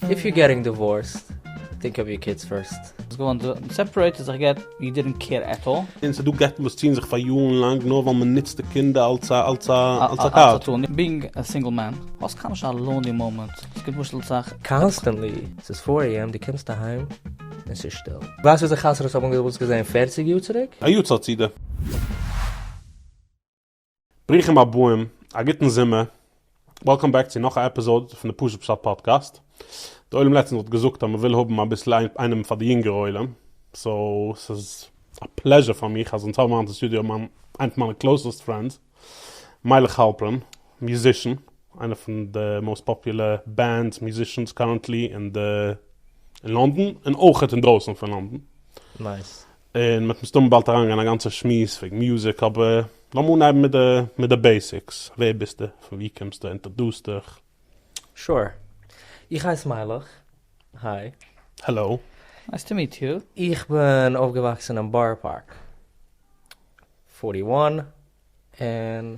איף יו געטינג דיווארסט טינק אוו יור קידס פירסט. האסט געוואלט סעפערעיט און זיך גע'גט, יו דידענט קעיר עט אלל. און ס'דא גט'ן וואס ציען זיך פאר יארן לאנג נאר ווייל מ'נוצט די קינדער אלס א אלס א אלס א קארד. בינג א סינגל מען, האסט קיינמאל נישט א לאנלי מאמענט, עס געט משל צח. קאנסטענטלי, ס'איז פאר עי עם די קומסט אהיים און ס'איז שטיל. ווייסט וויאזוי חתונות האבן אויסגעזעהן פערציג יאר צוריק? א יאר צייט צו די. ברוכים הבאים, א גוטן זומער, וועלקאם בעק צו נאך א עפיזאד פון די פשוט פשט פאדקעסט, די עולם לעצטענס האט געזאגט אז מען וויל האבן אביסל איינעם פאר די יונגערע עולם, סאו ס'איז א פלעזשער פאר מיך אז אונז האבן היינט אין סטודיאו מיין איינע פון מיינע קלאוסעסט פרענדס, מיילעך האלפרין, מיוזישן, איינע פון די מאוסט פאפולער בענדס, מיוזישענס, קארענטלי אין די אין לאנדאן און אויכעט אינדרויסן פון לאנדאן. נייס. און מ'וועט מסתמא באלד אריינגיין אין א גאנצע שמועס וועגן מוזיק, אבער לאמיר אנהייבן מיט די מיט די בעיסיקס, ווער ביסטו? פון וואו קומסטו? אינטערדוס דיך. שור. איך הייס מיילעך. היי. העלאו. נייס טו מיעט יו. איך בין אויפגעוואקסן אין בארא פארק פארטי וואן און.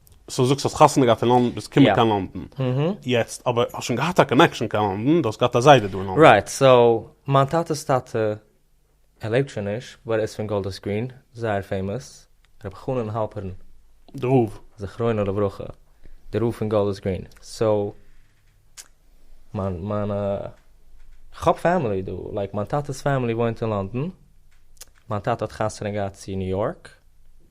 סאו זאגסט האסט חתונה געהאט אין לאנדן ביסט געקומען קיין לאנדן יעצט אבער האסט שוין געהאט א קאנעקשאן קיין לאנדן די האסט געהאט א זיידע דא אין לאנדן. רייט סאו מיין טאטעס טאטע ער לעבט שוין נישט באט ער איז פון גאלדערס גרין זייער פעימאס רבי חנן האלפערן די רב. זכרונו לברכה די רב פון גאלדערס גרין סאו מיין מיין כ'האב פעמילי דא לייק מיין טאטעס פעמילי וואוינט אין לאנדן מיין טאטע האט חתונה געהאט צו ניו יארק.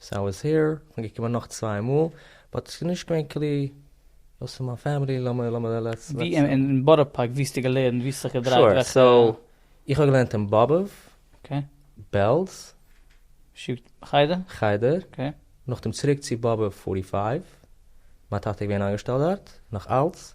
סאו איז הער, כ'בין געקומען נאך צוויי מאל, באט ס'איז נישט געווען קליא, דאס איז מיין פעמילי, לאמיר לאמיר לעטס. ווי אין אין בארא פארק ווי האסטו געלערנט ווי האסט זיך געדרייט וועלכע. שור, סאו איך האב געלערנט אין באבוב. אקעי. בעלז. שיב ט חדר. חדר. אקעי. נאכדעם צוריק צו באבוב פארטי פייוו, מיין טאטע איז געווען איינגעשטעלט דארט, נאך אלץ,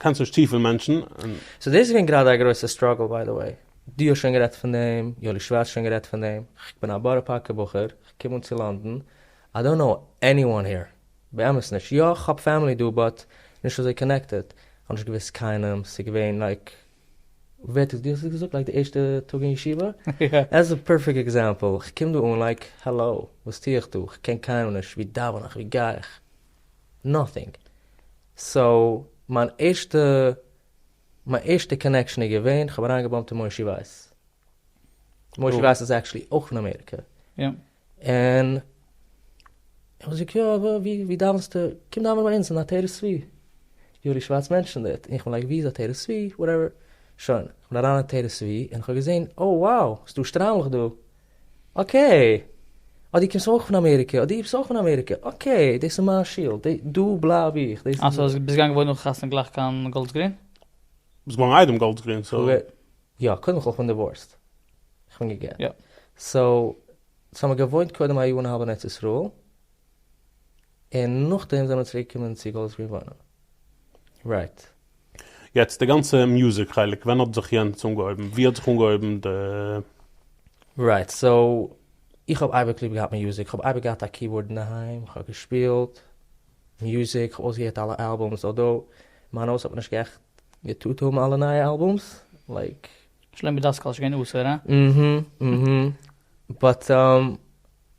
קענסט נישט צופיל מענטשן און. סאו דאס איז געווען גראדע א גרויסע סטראגל ביי די וועי, דו האסט שוין גערעדט פון דעם, יואלי שווארץ שוין גערעדט פון דעם, כ'בין א בארא פארקער בחור, כ'קום אן צו לאנדן, איי דאנט קנאו עניוואן העיר, באמת נישט, יא כ'האב פעמילי דא באט נישט אזוי קאנעקטעד, כ'האב נישט געוואוסט קיינעם, ס'איז געווען לייק, ווער האט עס, דו האסט עס געזאגט לייק די ערשטע טאג אין ישיבה? עס איז א פערפעקט עקזעמפל, כ'קום דא אן לייק, העלאו, וואס טו איך דא, כ'קען קיינעם נישט, ווי דאווען איך, ווי גיי איך? נאטינג. סאו מיין ערשטע מיין ערשטע קאנעקשאן איז געווען כ'האב אריינגעבאמט אין מושי ווייס. מושי ווייס איז עקטשעלי אויך פון אמעריקע. און ער האט געזאגט יא ווי דאווענסטו? קום דאווענען ביי אונז אין א תורה צבי. יואלי שווארץ מענטשענד איט. און כ'בין לייק ווי איז א תורה צבי? וואטעווער. שוין. כ'בין אריין אין תורה צבי און כ'האב געזען, אוי wow ס'דא שטריימלעך דא. אקעי! אה דו קומסט אויך פון אמעריקע, אה דו ביסט אויך פון אמעריקע, אקעי, דאס איז מיין שול, דא דא בלייב איך, דאס איז. אה סאו ביסט געגאנגען וואוינען נאכן חתונה גלייך קיין גאלדס גרין? ביסט געווארן איידעם גאלדס גרין סאו. יא, קודם כל כ'בין דיווארסט, כ'בין געגעט. יא. סאו, סאו מ'האט געוואוינט קודם א יאר און א האלב אין ארץ ישראל. און נאכדעם זענען מיר צוריק געקומען צו גאלד ספרינג וואוינען. רייט. יעצט די גאנצע מוזיק חלק ווען האט זיך יענץ אנגעהויבן? ווי האט זיך אנגעהויבן די. רייט סאו איך האב אייביג ליב געהאט מוזיק כ'האב אייביג געהאט א קיבארד אינדערהיים כ'האב געשפילט מוזיק כ'האב אויסגעהערט אלע אלבומס אלדאו מיין הויז האט מען נישט גערעכט געטוט האבן אלע נייע אלבומס לייק. שלומי דאסקאל איז שוין געווען אסור הא? אהמ אהמ באט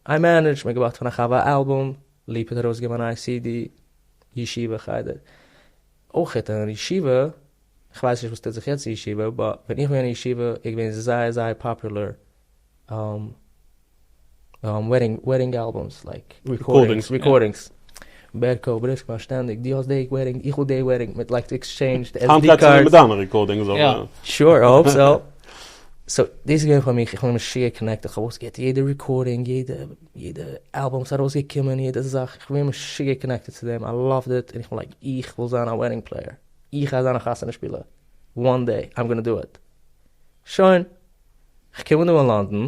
איי מענעדזש, מיר האבן געבארגט פון א חבר א אלבום, ליפא האט ארויסגעגעבן אן איי סי די, ישיבה חדר, אויכעט אין ישיבה, איך ווייס נישט וואס טוט זיך יעצט אין ישיבה, באט ווען איך בין געווען אין ישיבה איז געווען זייער זייער פאפולער וועדינג אלבומס, לייק רעקארדינגס. בערקאו בריסק באשטענדיג דו האסט די עירינג איך האב די עירינג מען לייגט עקסטשעינדש די עס די קארדס. מיט דיינע רעקארדינגס אויך. יא שור איי האופ סאו. סאו דאס איז געווען פאר מיך איך האב מיך משוגע קאנעקטעד איך האב אויסגעהערט יעדע רעקארדינג יעדע יעדע אלבום וואס איז ארויסגעקומען יעדע זאך איך בין משוגע קאנעקטעד צו דעם איי לאווט איט און איך בין לייק איך וויל זיין א וועדינג פלעיער איך גיי זיין א חתונה שפילער וואן דעי איים גאנא דא איט. שוין. איך קום אן דא אין לאנדאן.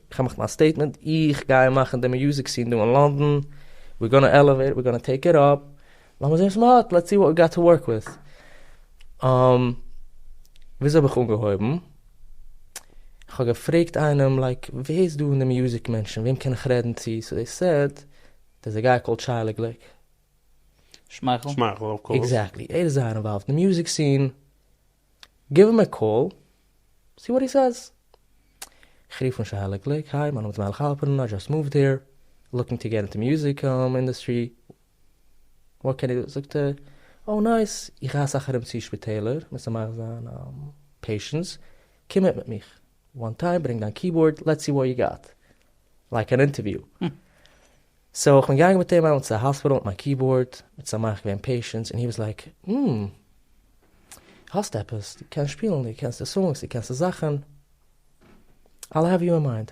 כ'מאך מיין סטעיטמענט, איך גיי מאכן די מיוזיק סין דא אין לאנדאן, ווי גאנא עלעוועיט, ווי גאנא טעיק איט אפ, לאמיר זעהן וואס מ'האט, לעטס סי וואט ווי גאט טו ווארק וויט. וויאזוי האב איך אנגעהויבן? כ'האב געפרעגט איינעם לייק ווער איז דא אין די מיוזיק מענטשן, וועם קען איך רעדן צו, סאו זיי סעד דערס א גיי קאלד שי לגליק. שמייכל. שמייכל אוו קאורס. עקזעקטלי, ער איז זייער אינוואלווד אין די מיוזיק סין. גיוו הים א קאל סי וואט הי סעיז. כ'רוף אן שי העלער גליק, היי, מיין נאמען איז מיילעך האלפערן, איי זשאסט מאווד העיר, לוקינג טו געט אינטו מיוזיק אינדעסטרי, וואט קען איך, זאגט ער, אוי נייס, איך גיי אסאך ארום צו שפיטעלער, מוזט זיך מחזיר זיין פעישענס, קום מיט מיט מיך. וואן טיים ברענג דיין קיבאורד לעטס סי וואט יו גאט. לייק אן אינטערוויו. סאו כ'בין געגאנגען מיט אים אהין צו די האספיטאל מיט מיין קיבאורד, מיט שמח געווען פעישענס און הי וואס לייק אםמ. האסט עפעס? דו קענסט שפילן? דו קענסט די סאנגס? דו קענסט די זאכן? אי'ל העוו יו אין מיינד.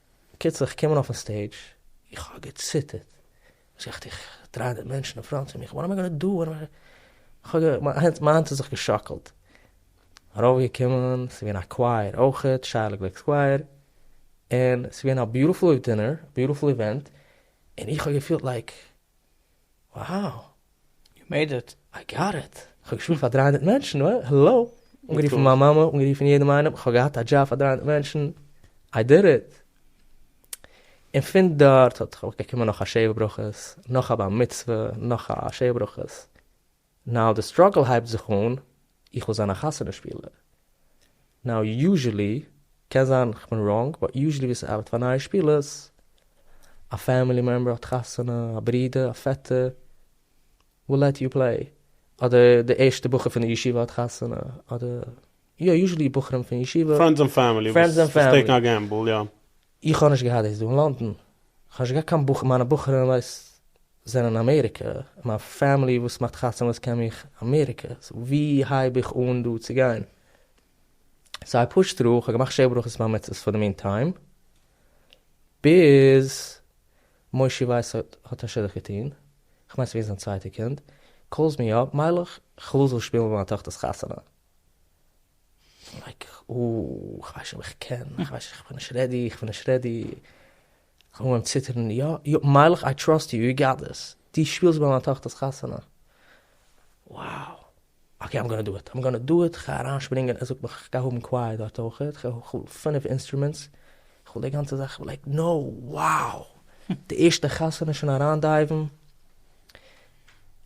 בקיצור איך קום אן אויפן סטעידזש, איך האב געציטערט, וואס איך טו, איך דריי די מענטשן אין פראנט פון מיך, וואט עם איי גאנא דא, וואט עם איי גאנא דא, מיין האנט האט זיך געשאקלט, ארויף געקומען, ס'איז געווען א קווייער אויכעט, שייערלע גליק'ס קווייער, און ס'איז געווען א ביוטיפול אויף דינער, ביוטיפול איווענט, און איך האב געפילט לייק. וואו! יו מעיד איט! איי גאט איט! כ'האב געשפילט פאר דרײַ הונדערט מענטשן, העלא! אנגערופן מיין מאמע, אנגערופן יעדעם איינעם, כ'האב געהאט א דזשאב פאר דרײַ הונדערט מענטשן, איי דיד איט! און פון דארט האט געקומען נאך א שבע ברכות, נאך א בר מצוה, נאך א שבע ברכות. נאו די סטראגל הייבט זיך אן, איך וויל זיין א חתונה שפילער, נאו יוזשעלי, קען זיין כ'בין ראנג, באט יוזשעלי ווי ס'ארבעט פאר נייע שפילערס, א פעמילי מעמבער האט חתונה, א ברודער, א פעטער, וויל לעט יו פלעי, אדער די ערשטע בחור פון די ישיבה האט חתונה, אדער יא יוזשעלי בחורים פון ישיבה, פרענדס און פעמילי וואס טעיקן א געמבל, יא. איך האב נישט געהאט דאס דא אין לאנדאן, איך האב נישט געהאט קיין בחור, מיינע בחורים ווייסט זענען אין אמעריקע, מיין פעמילי וואס מאכט חתונות קען מיך אמעריקע, סאו ווי הייב איך אן דא צו גיין? סאו איי פושד טרו, איך האב געמאכט שבע ברכות בר מצוות פאר די מין טיים, ביז מושי ווייס האט א שידוך געטון, איך מיין ס'איז געווען זיין צווייטע קינד, קאלס מי אפ, מיילעך, כ'וויל זאלסט שפילן ביי מיין טאכטער'ס חתונה. איך ווייס נישט אויב איך קען, איך ווייס נישט, איך בין נישט רעדי, איך בין נישט רעדי, איך האב אנגעהויבן ציטערן, יא, יא, מיילעך, איי טראסט יו, יו גאט דיס, דו שפילסט ביי מיין טאכטער'ס חתונה, wow, אקעי, איים גאנא דא איט, איים גאנא דא איט, איך גיי אריינשפרינגען, ער זאגט מיך איך גיי האבן קווייער דארט אויך, איך וויל פינף אינסטרומענטס, איך וויל די גאנצע זאך, לייק נאו, wow, די ערשטע חתונה שוין אריינדייוון.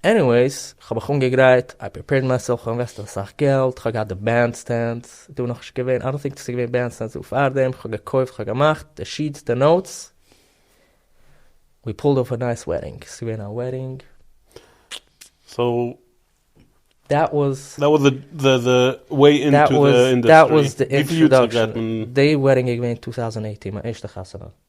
עניוועיס, כ'האב מיך אנגעגרייט, איי פריפעירד מייסעלף, כ'האב אינוועסטעד אסאך געלט, כ'האב געהאט די בענד סטענד, דא איז נאכנישט געווען, איי דאנט טינק דאס איז געווען בענד סטענדס דא פארדעם, כ'האב געקויפט, כ'האב געמאכט, די שיעטס, די נאוטס, ווי פולד אויף א נייס וועדינג, ס'איז געווען א וועדינג. דעט וואס די אינטראדאקשען, די וועדינג איז געווען טו טאוזענד עיטין מיין ערשטע חתונה.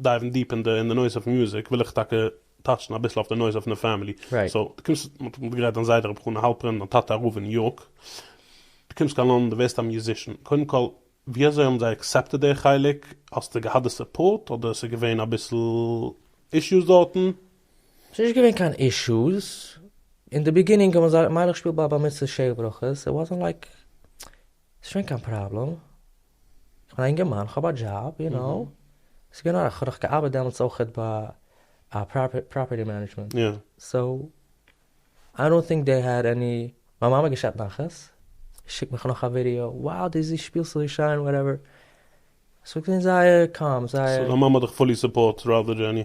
דייוון דיעפ אין די נויז אויף מוזיק וויל איך טאקע טאטשן אביסל אויף די נויז אויף די פעמילי, סאו די קומסט מען האט געגרייט דיין זיידע רבי חנא האלפרין דיין טאטע א רב אין ניו יארק די קומסט קיין לאנדאן די ווערסט א מיוזישען קודם כל ווי אזוי האבן זיי עקסעפטעד די חלק האסטו געהאט די סופארט אדער עס איז געווען אביסל אישוס דארטן? ס'איז נישט געווען קיין אישוס, אין די ביגינינג האבן זיי מיילעך שפיל ביי א בר מצוה שער ברכות, איט וואזענט לייק ס'איז נישט געווען קיין פראבלעם. כ'בין א אינגערמאן, כ'האב א דזשאב, יו נאו, ס'איז געווען אויך, כ'האב דאך געארבעט דעמאלטס אויכעט ביי פראפערטי מענעדזשמענט, סאו, איי דאנט טינק דעי העד עני, מיין מאמע געשעפט נחת, שיקט מיך נאך א ווידיאו, wow די זי שפילסט אזוי שיין, וואטעווער, ס'איז געווען זייער קאם, זייער. סאו דיין מאמע האט דיך פולי סופארט ראדער דזשעני.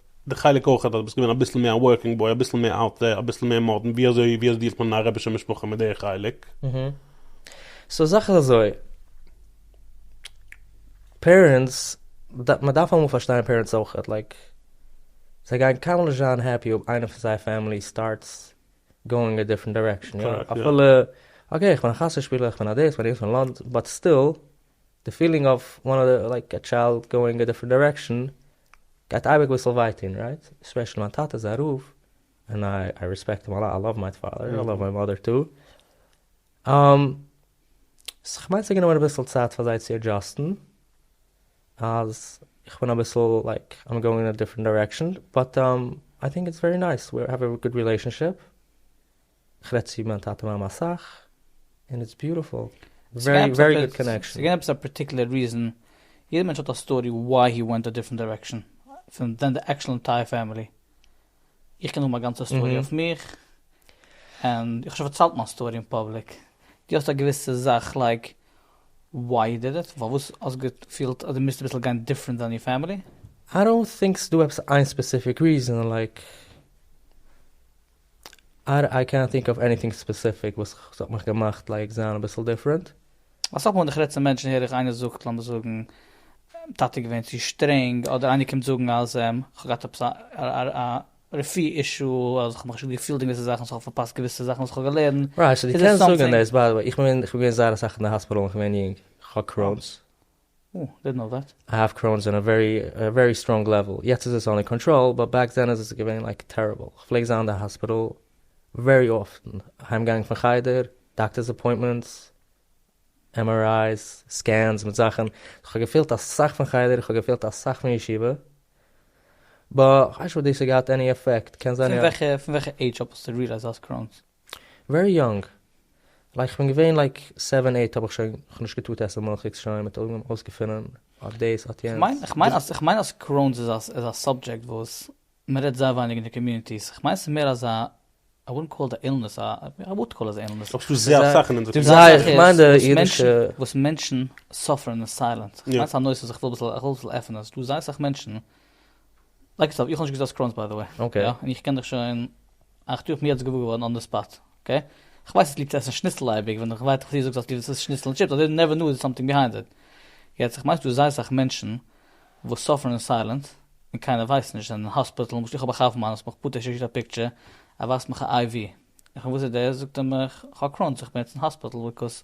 די חלק אויך אז דו ביסט געווען אביסל מער א ווארקינג בוי אביסל מער אוט דער אביסל מער מאדערן ווי אזוי ווי אזוי דיעלט מען אין א רבישע משפחה מיט די חלק? סאו זאך איז אזוי, פערענטס, מען דארף אמאל פארשטיין פערענטס אויכעט, לייק זיי גייען קיינמאל נישט זיין העפי אויב איינער פון זייער פעמילי סטארטס גאואינג א דיפרענט דירעקשאן, אפילו אקעי איך בין א חתונה שפילער איך בין א דאס איך בין יענס פון לאנד באט סטיל. די פילינג אויף וואן אדער לייק א טשיילד גאוינג א דיפרענט דירעקשאן גייט אייביג אביסל וויי טון רייט? ספעשעלי מיין טאטע איז א רב און איי רעספעקט אים א לאט, איי לאוו מיין פאדער, איי לאוו מיין מאדער טו, און סאו כ'מיין ס'איז גענומען אביסל צייט פאר זיי צו עדזשאסטן אז איך בין אביסל לייק איים גאוינג אין א דיפרענט דירעקשאן, באט איי טינק איטס ווערי נייס, ווי האוו א גוד רילעישאנשיפ. כ'רעד צו מיין טאטע מאמע אסאך, און איטס ביוטעפול, ווערי ווערי גוד קאנעקשאן. ס'איז געווען עפעס א פארטיקלער ריזען, יעדע מענטש האט א סטארי וואי הי ווענט א דיפרענט דירעקשאן, פון דען די עקשאל אינטייער פעמילי, איך קען האבן א גאנצע סטארי אויף מיך, און איך האב שוין פארציילט מיין סטארי אין פאבליק, דו האסט א געוויסע זאך לייק וואי יו דיד איט, פארוואס האסט געפילט אז דו מוזט אביסל גיין דיפרענט דען יור פעמילי? איי דאנט טינק ס'דא עפעס איין ספעסיפיק ריזען לייק. איי קענט טינק אוו עניטינג ספעסיפיק וואס ס'האט מיך געמאכט לייק זיין אביסל דיפרענט. אסאך מאל ווען איך רעד צו מענטשן הער איך איינער זאגט לאמיר זאגן טאטע איז געווען צו שטרענג אדער איינער קומט זאגן אז כ'האב געהאט עפעס א רפי אישו אז כ'האב מיך נישט גוט געפילט אין געוויסע זאכן סאו כ'האב פארפאסט געוויסע זאכן וואס כ'האב געלערנט. רייט סאו דו קענסט זאגן דעס ביי די וועי איך בין געווען זייער אסאך אין די האספיטאל ווען כ'בין יונג כ'האב קרוינס. האף קראונס אין א ווערי ווערי סטראנג לעוועל, יעצט איז עס אנדער קאנטראל, באט בעק דען איז עס געווען לייק טעריבל, איך פלעג זיין אין די האספיטעל ווערי אפטן, אהיים געגאנגען פון חדר, דאקטערס אפוינטמענטס, MRI's, סקענס מיט זאכן, איך האב געפילט אסאך פון חדר, איך האב געפילט אסאך פון ישיבה, באט כ'ווייס נישט אויב דאס האט געהאט עני עפעקט, קען זיין יא. פון וועלכע עידזש אויף האסטו רילייזט אז האסט קראונס? ווערי יונג, לייק כ'בין געווען לייק סעווען עיט האב איך שוין כ'נישט געטוט עסן מילכיגס שוין מיט אויגן אויסגעפונען אט דאס אט יענץ. כ'מיין אז קרוינס איז א סאבדזשעקט וואס מ'רעדט זייער ווייניג אין די קאמיוניטיס, כ'מיין ס'איז מער אזא איי וואלדנט קאל איט א אילנעס, איי וואלד קאל איט אן אילנעס. אבער ס'דא זייער אסאך אין אונזער קאמיוניטי. וואס מענטשן סאפערן אין סיילענס. כ'מיין ס'איז א נושא וואס כ'וויל אביסל עפענען. ס'דא זייער אסאך מענטשן לייג עס אויף, איך האב נישט געזען סקראנס ביי די וועי, אקעי, און איך קען דיך שוין אַכט יאר, איך בין יעצט געוואר געווארן אן די ספאט, אקעי, איך ווייס אז ליבסט עסן שניצל אייביג, ווען איך ווייט פארטיר זאגסט אז ליבסט עסן שניצל און טשיפס, אזוי נעווער נאו איז סאמטינג ביהיינד איט, יעצט איך מיין ס'דא זייער סאך מענטשן וואס סאפערן אין סיילענט און קיינער ווייסט נישט, זענען אין האספיטעל, למשל איך האב א חבר מיין וואס מיך פארט שיקט א פיקטשער ער ווייזט מיך א IV, איך פרעג וואס איז דאס, זאגט ער מיך איך האב קראנס איך בין יעצט אין האספיטעל ביקאוז.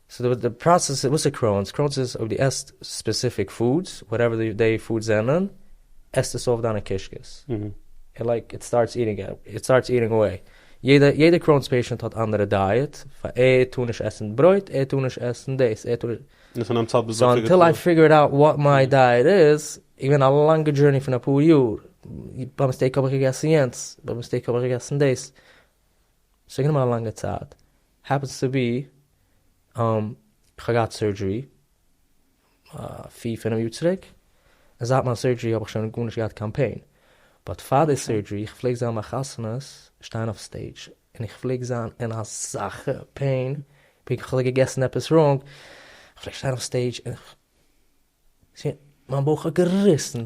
סאו די די פראסעס, וואס איז קראונס? קראונס איז אויב דו עסט ספעסיפיק פודס, וואטעווער דעי פודס זענען, עסט עס אויף דיינע קישקעס, און לייק איט סטארטס איטינג אוט, איט סטארטס איטינג אוועי. יעדע יעדע קראונס פעישענט האט אנדערע דייעט, פאר ער טאר נישט עסן ברויט, ער טאר נישט עסן דאס, ער טאר. און פון דעם צייט ביז וועלכע געטראגן? סאו אנטיל איי פיגערד אוט וואט מיי דייעט איז, איז געווען א לאנגע דזשורני פון אפאר יאר, ביי מיסטעיק האב איך געגעסן יענץ, ביי מיסטעיק האב איך געגעסן דאס. ס'האט גענומען א לאנגע צייט, העפענס טו בי כ'האב געהאט סורדזשערי פיר פינעף יאר צוריק, און זייט מיין סורדזשערי האב איך שוין גארנישט געהאט קיין פעין, באט פאר די סורדזשערי איך פלעג זיין ביי חתונות שטיין אויף סטעידזש און איך פלעג זיין אין אזאלכע פעין, פונקט ווי כ'וואלט געגעסן עפעס ראנג, כ'פלעג שטיין אויף סטעידזש און. מיין בויך האט געריסן.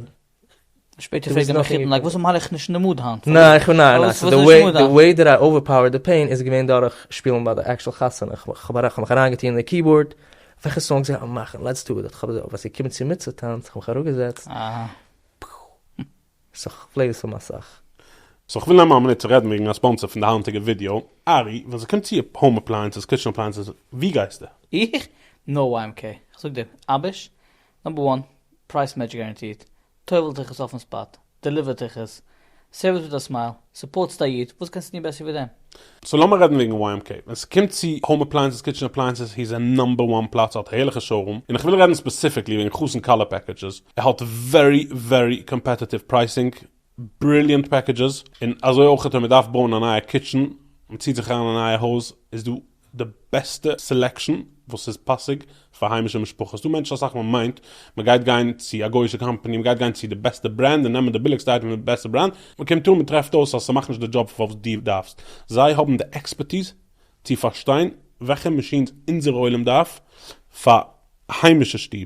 שפעטער פרעגט ער מיך יעדן טאג, וואס מאל איך נישט אין די מוד היינט? ניין, די וועי דעט איי אווערפאוערד די פעין איז געווען דורך שפילן ביי די עקטשועל חתונה, איך האב מיך אריינגעטון אין די קיבארד, וועלכע סאנג זאל איך מאכן, לעטס דו איט, ווען ס'איז געקומען צו מצות טאנץ, איך האב מיך אראפגעזעצט, סאו כ'פלעי עס אן אסאך. סאו כ'וויל נעמען א מינוט צו רעדן וועגן א ספאנסער פון די היינטיגע ווידיאו, ארי, ווען ס'קומט צו האום אפלייענסעס, קיטשן אפלייענסעס, וואו גייסטו? איך? נאו וועי עם קעי, כ'זאג דיר, אביש, נאמבער וואן, פרייס מעטש גאראנטירט, טויבלט דיך עס אויפן ספאט, דעליווערט דיך עס, סערוויס מיט א סמייל, סופארטסט א איד? וואס קענסטו טון בעסער ווי דעם? סאו לאמיר רעדן וועגן YMK. ווען ס'קומט צו האום אפלייענסעס, קיטשען אפלייענסעס, הי איז א נאמבער וואן פלאץ, ער האט הערליכע שארום, און איך וויל רעדן ספעסיפיקלי וועגן חתן כלה פעקעדזשעס, ער האט ווערי ווערי קאמפעטעטיוו פרייסינג, בריליענט פעקעדזשעס, און אזוי אויך ווען מ'דארף בויען א נייע קיטשען, מ'ציעט זיך אריין אין א נייע הויז, איז דא די בעסטע סעלעקשאן וואס איז פאסיג פאר היימישע משפחות, ס'דא מענטשן אסאך ווען מ'מיינט מ'גייט גיין צו א גוי'שע קאמפאני, מ'גייט גיין צו די בעסטע ברענד און נעמען די ביליגסטע אייטעם פון די בעסטע ברענד, מ'קומט אן מ'טרעפט אויס אז ס'מאכט נישט די דזשאב פאר וואס דו דארפסט, זיי האבן די עקספערטיז צו פארשטיין וועלכע מאשינס אונזער עולם דארף פאר היימישע שטוב,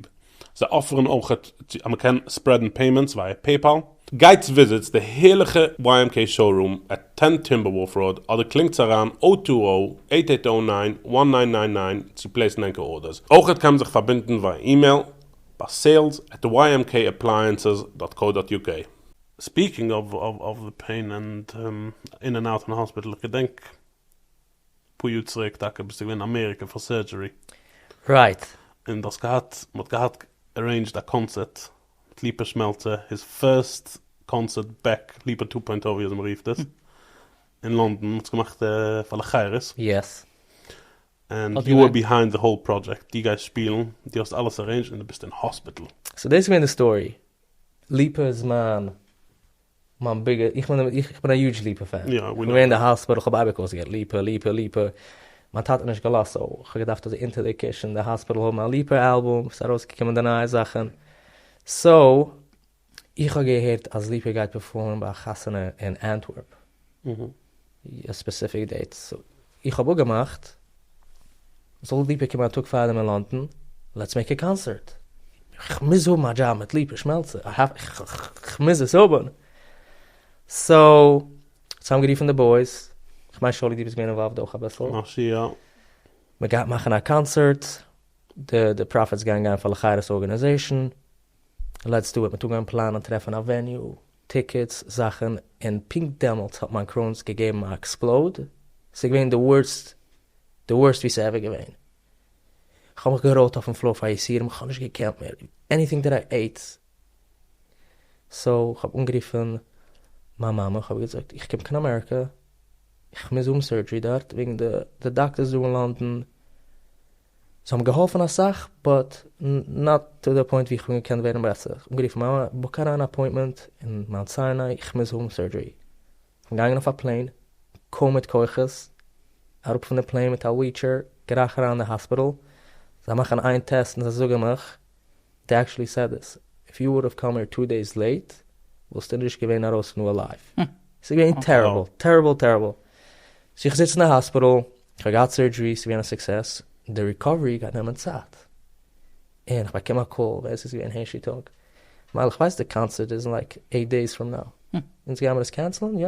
זיי אפערן אויך אז מען קען ספרעדן פעימענטס ווייע פעיפאל. גייטס וויזיטס די הערליכע YMK שאו-רום עט טען טימבערוואלף ראוד אדער קלינגטס אריין אויט טו זירא אייט אייט זירא ניין וואן ניין ניין ניין צו פלעיסן ענקער ארדערס, אויך קען מען זיך פארבינדן ווייע אימעיל ביי סעילס עט וויי עם קעי עפלייענסעס דאט קאו דאט יו קעי. ספיעקינג אוו די פעין ענד אין ענד אוט אין האספיטעל איך געדענק פאר יאר צוריק טאקע ביסטו געווען אין אמעריקע פאר סערדזשערי. רייט. און דו האסט געהאט, מען האט געהאט ערעינדזשד א קאנצערט מיט ליפא שמעלצער, היז פירסט קאנצערט בעק, ליפא טו פוינט או ווי אזוי מען רופט עס, אין לאנדאן, מען האט עס געמאכט פאר לחיירות. יעס. ענד יו אר ביהיינד די האול פראדזשעקט, דו גייסט שפילן, דו האסט אלעס ערעינדזשד און דו ביסט אין האספיטל. סאו דאס איז געווען די סטארי, ליפא איז מיין מיין ביגע, איך בין א, איך בין א יוטש ליפא פען, איך בין געווען אין די האספיטעל, כ'האב אייביג אויסגעהערט ליפא, ליפא, ליפא, מיין טאטע האט נישט געלאזט, סאו כ'האב געדארפט אזוי אונטער די קושן אין די האספיטעל האבן א ליפא אלבום וואס איז ארויסגעקומען די נייע זאכן, סאו איך האב געהערט אז ליפא גייט פערפארמען ביי א חתונה אין אנטווערפ. א ספעסיפיק דעיט, איך האב אפגעמאכט זאל ליפא קומען א טאג פארדעם אין לאנדאן, לעטס מעיק א קאנסערט, איך מוז האבן א דזשאב מיט ליפא שמעלצער, איך מוז עס האבן, סאו צוזאמגערופן די בויס, איך מיין שאולי דו ביסט געווען אינוואלווד אויך אביסל, משהו יא. מ'גייט מאכן א קאנסערט, די פראפיטס גייען גיין פאר לחירות ארגענעזעישן, לעצטע וועט מען טאג אנפלאנען, טרעפן א וועניו, טיקעטס, זאכן, און פונקט דעמאלטס האט מיין קרוינס געגעבן א עקספלאוד, ס'איז געווען די ווארסט, די ווארסט ווי ס'איז עווער געווען, כ'האב מיך געראולט אויפן פלאר פאר יסורים, כ'האב נישט געקענט מער, עניטינג דעט איי עיט, סאו כ'האב אנגערופן מיין מאמע, כ'האב איר געזאגט איך קום קיין אמעריקא, איך מוז האבן סורדזשערי דארט וועגן די דאקטערס דא אין לאנדאן זיי האבן געהאלפן אסאך באט נאט טו די פוינט ווי איך בין געקענט ווערן בעסער, איך האב אנגערופן מיין מאמע בוק אריין א אפוינטמענט אין מאונט סיני איך מוז האבן סורדזשערי, איך בין געגאנגען אויף א פלעין קוים מיט כוחות אראפ פון די פלעין מיט א וויטשער גרייך אריין אין די האספיטעל זיי מאכן איין טעסט און זיי זאגן מיך. דעי עקשעלי סעד דיס, איף יו וואלוו קאם הער טו דעיס לעיט וואלסטו נישט געווען ארויס פון אליוו, סאיז געווען טעריבל טעריבל טעריבל, סאו איך זיץ אין די האספיטעל, איך האב געהאט סורדזשערי, סאיז געווען א סוקסעס, די ריקאווערי גייט נעמען צייט, און איך באקום א קאל, ווער עס איז געווען הערשי טאג, מייל איך ווייס די קאנצערט איז אין לייק עיט דעיס פראם נאו, אונז גיימער עס קענסלען, יא?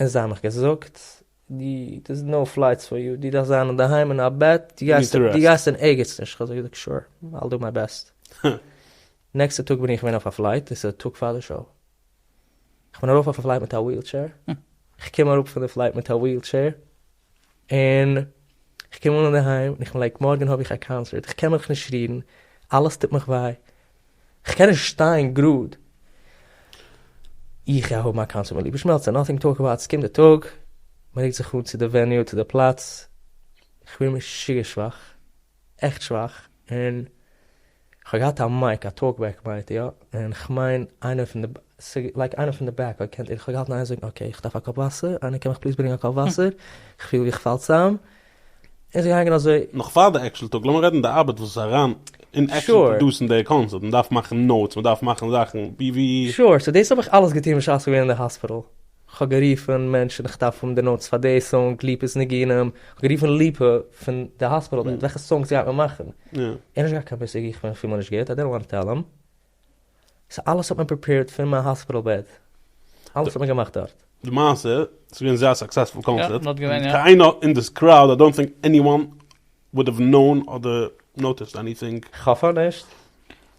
און זיי האבן מיך געזאגט, דו, דער'ס נאו פלייטס פאר יו, דו דארפסט זיין אינדערהיים אין א בעט, דו גייסט, דו גייסט אין ערגעץ נישט, כ'האב זיי געזאגט שור, אייל דו מיי בעסט. נעקסטע טאג בין איך געווען אויף א פלייט, דאס איז א טאג פאר די שאו, כ'בין ארויף אויף א פלייט מיט א וויעלטשעיר, כ'קום אראפ פון די פלייט מיט א וויעלטשעיר, און איך קום אן אינדערהיים און איך בין לייק מארגען האב איך א קאנסערט איך קען מיך נישט רירן אלעס טוט מיך וויי איך קען נישט שטיין גראד איך גיי האבן א קאנסערט מיט ליבע שמעלצער נאטינג טו טאלק אבאוט ס'קומט די טאג מ'רוקט זיך אן צו די וועניו צו די פלאץ איך פיל משוגע שוואך. עכט שוואך, און כ'האב געהאט א מייק, א טאלק בעק מייק, יא, און כ'מיין איינער פון די, ס'איז לייק איינער פון די בעק האט געקענט, און כ'האב געהאלטן איינער זאגן אקעי, כ'דארף א קאפ וואסער, איינער קען מיך פליז ברענגען א קאפ וואסער, כ'פיל ווי כ'פאל צאם, און ס'איז געגאנגען אזוי. נאך פאר די עקשעל טאלק, לאמיר רעדן די ארבעט וואס איז אריין אין עקשעל Sure. פראדוסן די קאנצערט, מ'דארף מאכן נאוטס, מ'דארף מאכן זאכן, ווי ווי. Sure, סאו דאס האב איך אלעס געטון בשעת כ'בין געווען אין די האספיטאל, כ'האב גערופן מענטשן איך דארף האבן די נאוטס פאר די סאנג ליפא'ס ניגונים, כ'האב גערופן ליפא פון די האספיטעל בענד וועלכע סאנגס גייט מען מאכן, ער האט נישט געהאט קיין מושג איך בין אפילו נישט גוט איי דידנט וואנט טו טעל אים, סאו אלעס האט מען פריפעירד פון מיין האספיטעל בעד, אלעס האט מען געמאכט דארט. די מעשה, ס'איז געווען זייער סוקסעספול קאנצערט, און קיין איינער אין דאס קראוד איי דאנט טינק עניוואן וואלט נאון אדער נאוטיסד עניטינג. כ'האף נישט.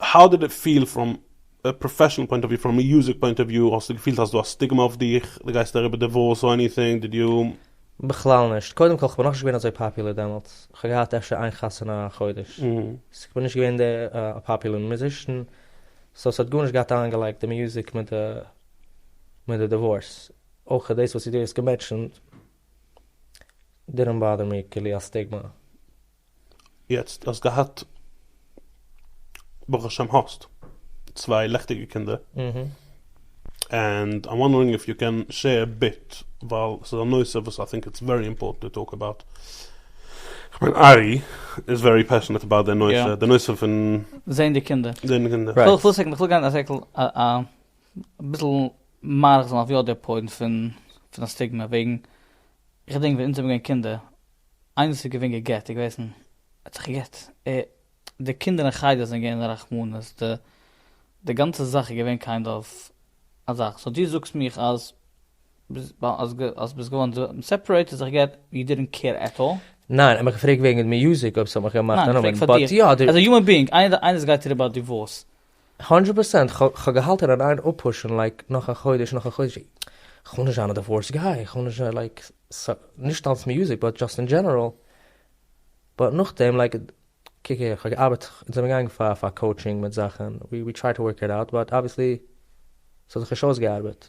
האו דיד איט פיל פראם א פראפעשענעל פוינט אוו וויו, פראם א יוזער פוינט אוו וויו, האסטו געפילט אז דא א סטיגמא אויף דיך, דו גייסט אריבער דיווארס אר עניטינג, דיד יו. בכלל נישט, קודם כל כ'בין נאכנישט געווען אזוי פאפולער דעמאלטס, כ'האב געהאט אפשר איין חתונה א חודש, סאו כ'בין נישט געווען די פאפולער מוזישן, סאו ס'האט גארנישט געהאט איינגעלייגט די מוזיק מיט די מיט די דיווארס, אויך דאס וואס דו האסט געמענטשענט דידענט באדער מי, כאילו א סטיגמא. יעצט האסט געהאט ברוך השם האסט צוויי לעכטיגע קינדער ענד איים וואנדערינג איף יו קען שעיר ביט ווייל ס'איז א נושא וואס איי טינק איטס ווערי אימפארטענט טו טאלק אבאוט כ'מיין ארי איז ווערי פעשענעט אבאוט די נושא די נושא פון זעהן די קינדער זעהן די קינדער. כ'וויל כ'וויל סעקונד כ'וויל גיין א זעקל אביסל מאריך זיין אויף יא די פוינט פון פון א סטיגמע וועגן איך געדענק ווען אונז זעמיר געווען קינדער, איינער וואס איז געווען גע'גט, איז געוועזן, האט זיך גע'גט, ער, די קינדער אין חדר זענען געווען אין רחמנות, די, די גאנצע זאך איז געווען קיינד אוו א זאך, סאו דו זאגסט מיך אז ביז, אז גע, אז ביזט געווארן די, סעפערעיטעד, זיך גע'גט, יו דידענט קעיר עט אלל? ניין, איך האב געפרעגט וועגן מיוזיק אויב ס'האט מיך געמאכט א נאמען, באט יא, די. עז א יומען ביאינג, איינער, איינער וואס גייט אריבער א דיווארס, הונדרעט פראצענט, כ'האב געהאלטען און איין אפפושען לייק נאך א חודש נאך א חודש, כ'וויל נישט זיין א דיווארס גיי, כ'וויל נישט לייק נישט אלץ מיוזיק באט דזשאסט אין דזשענערעל, באט נאכדעם לייק קוק איך האב געארבעט אונז זענען געגאנגען פאר פאר קאוטשינג מיט זאכען, ווי טריי טו ווארק איט אוט באט אבוויעסלי ס'האט זיך נישט אויסגעארבעט.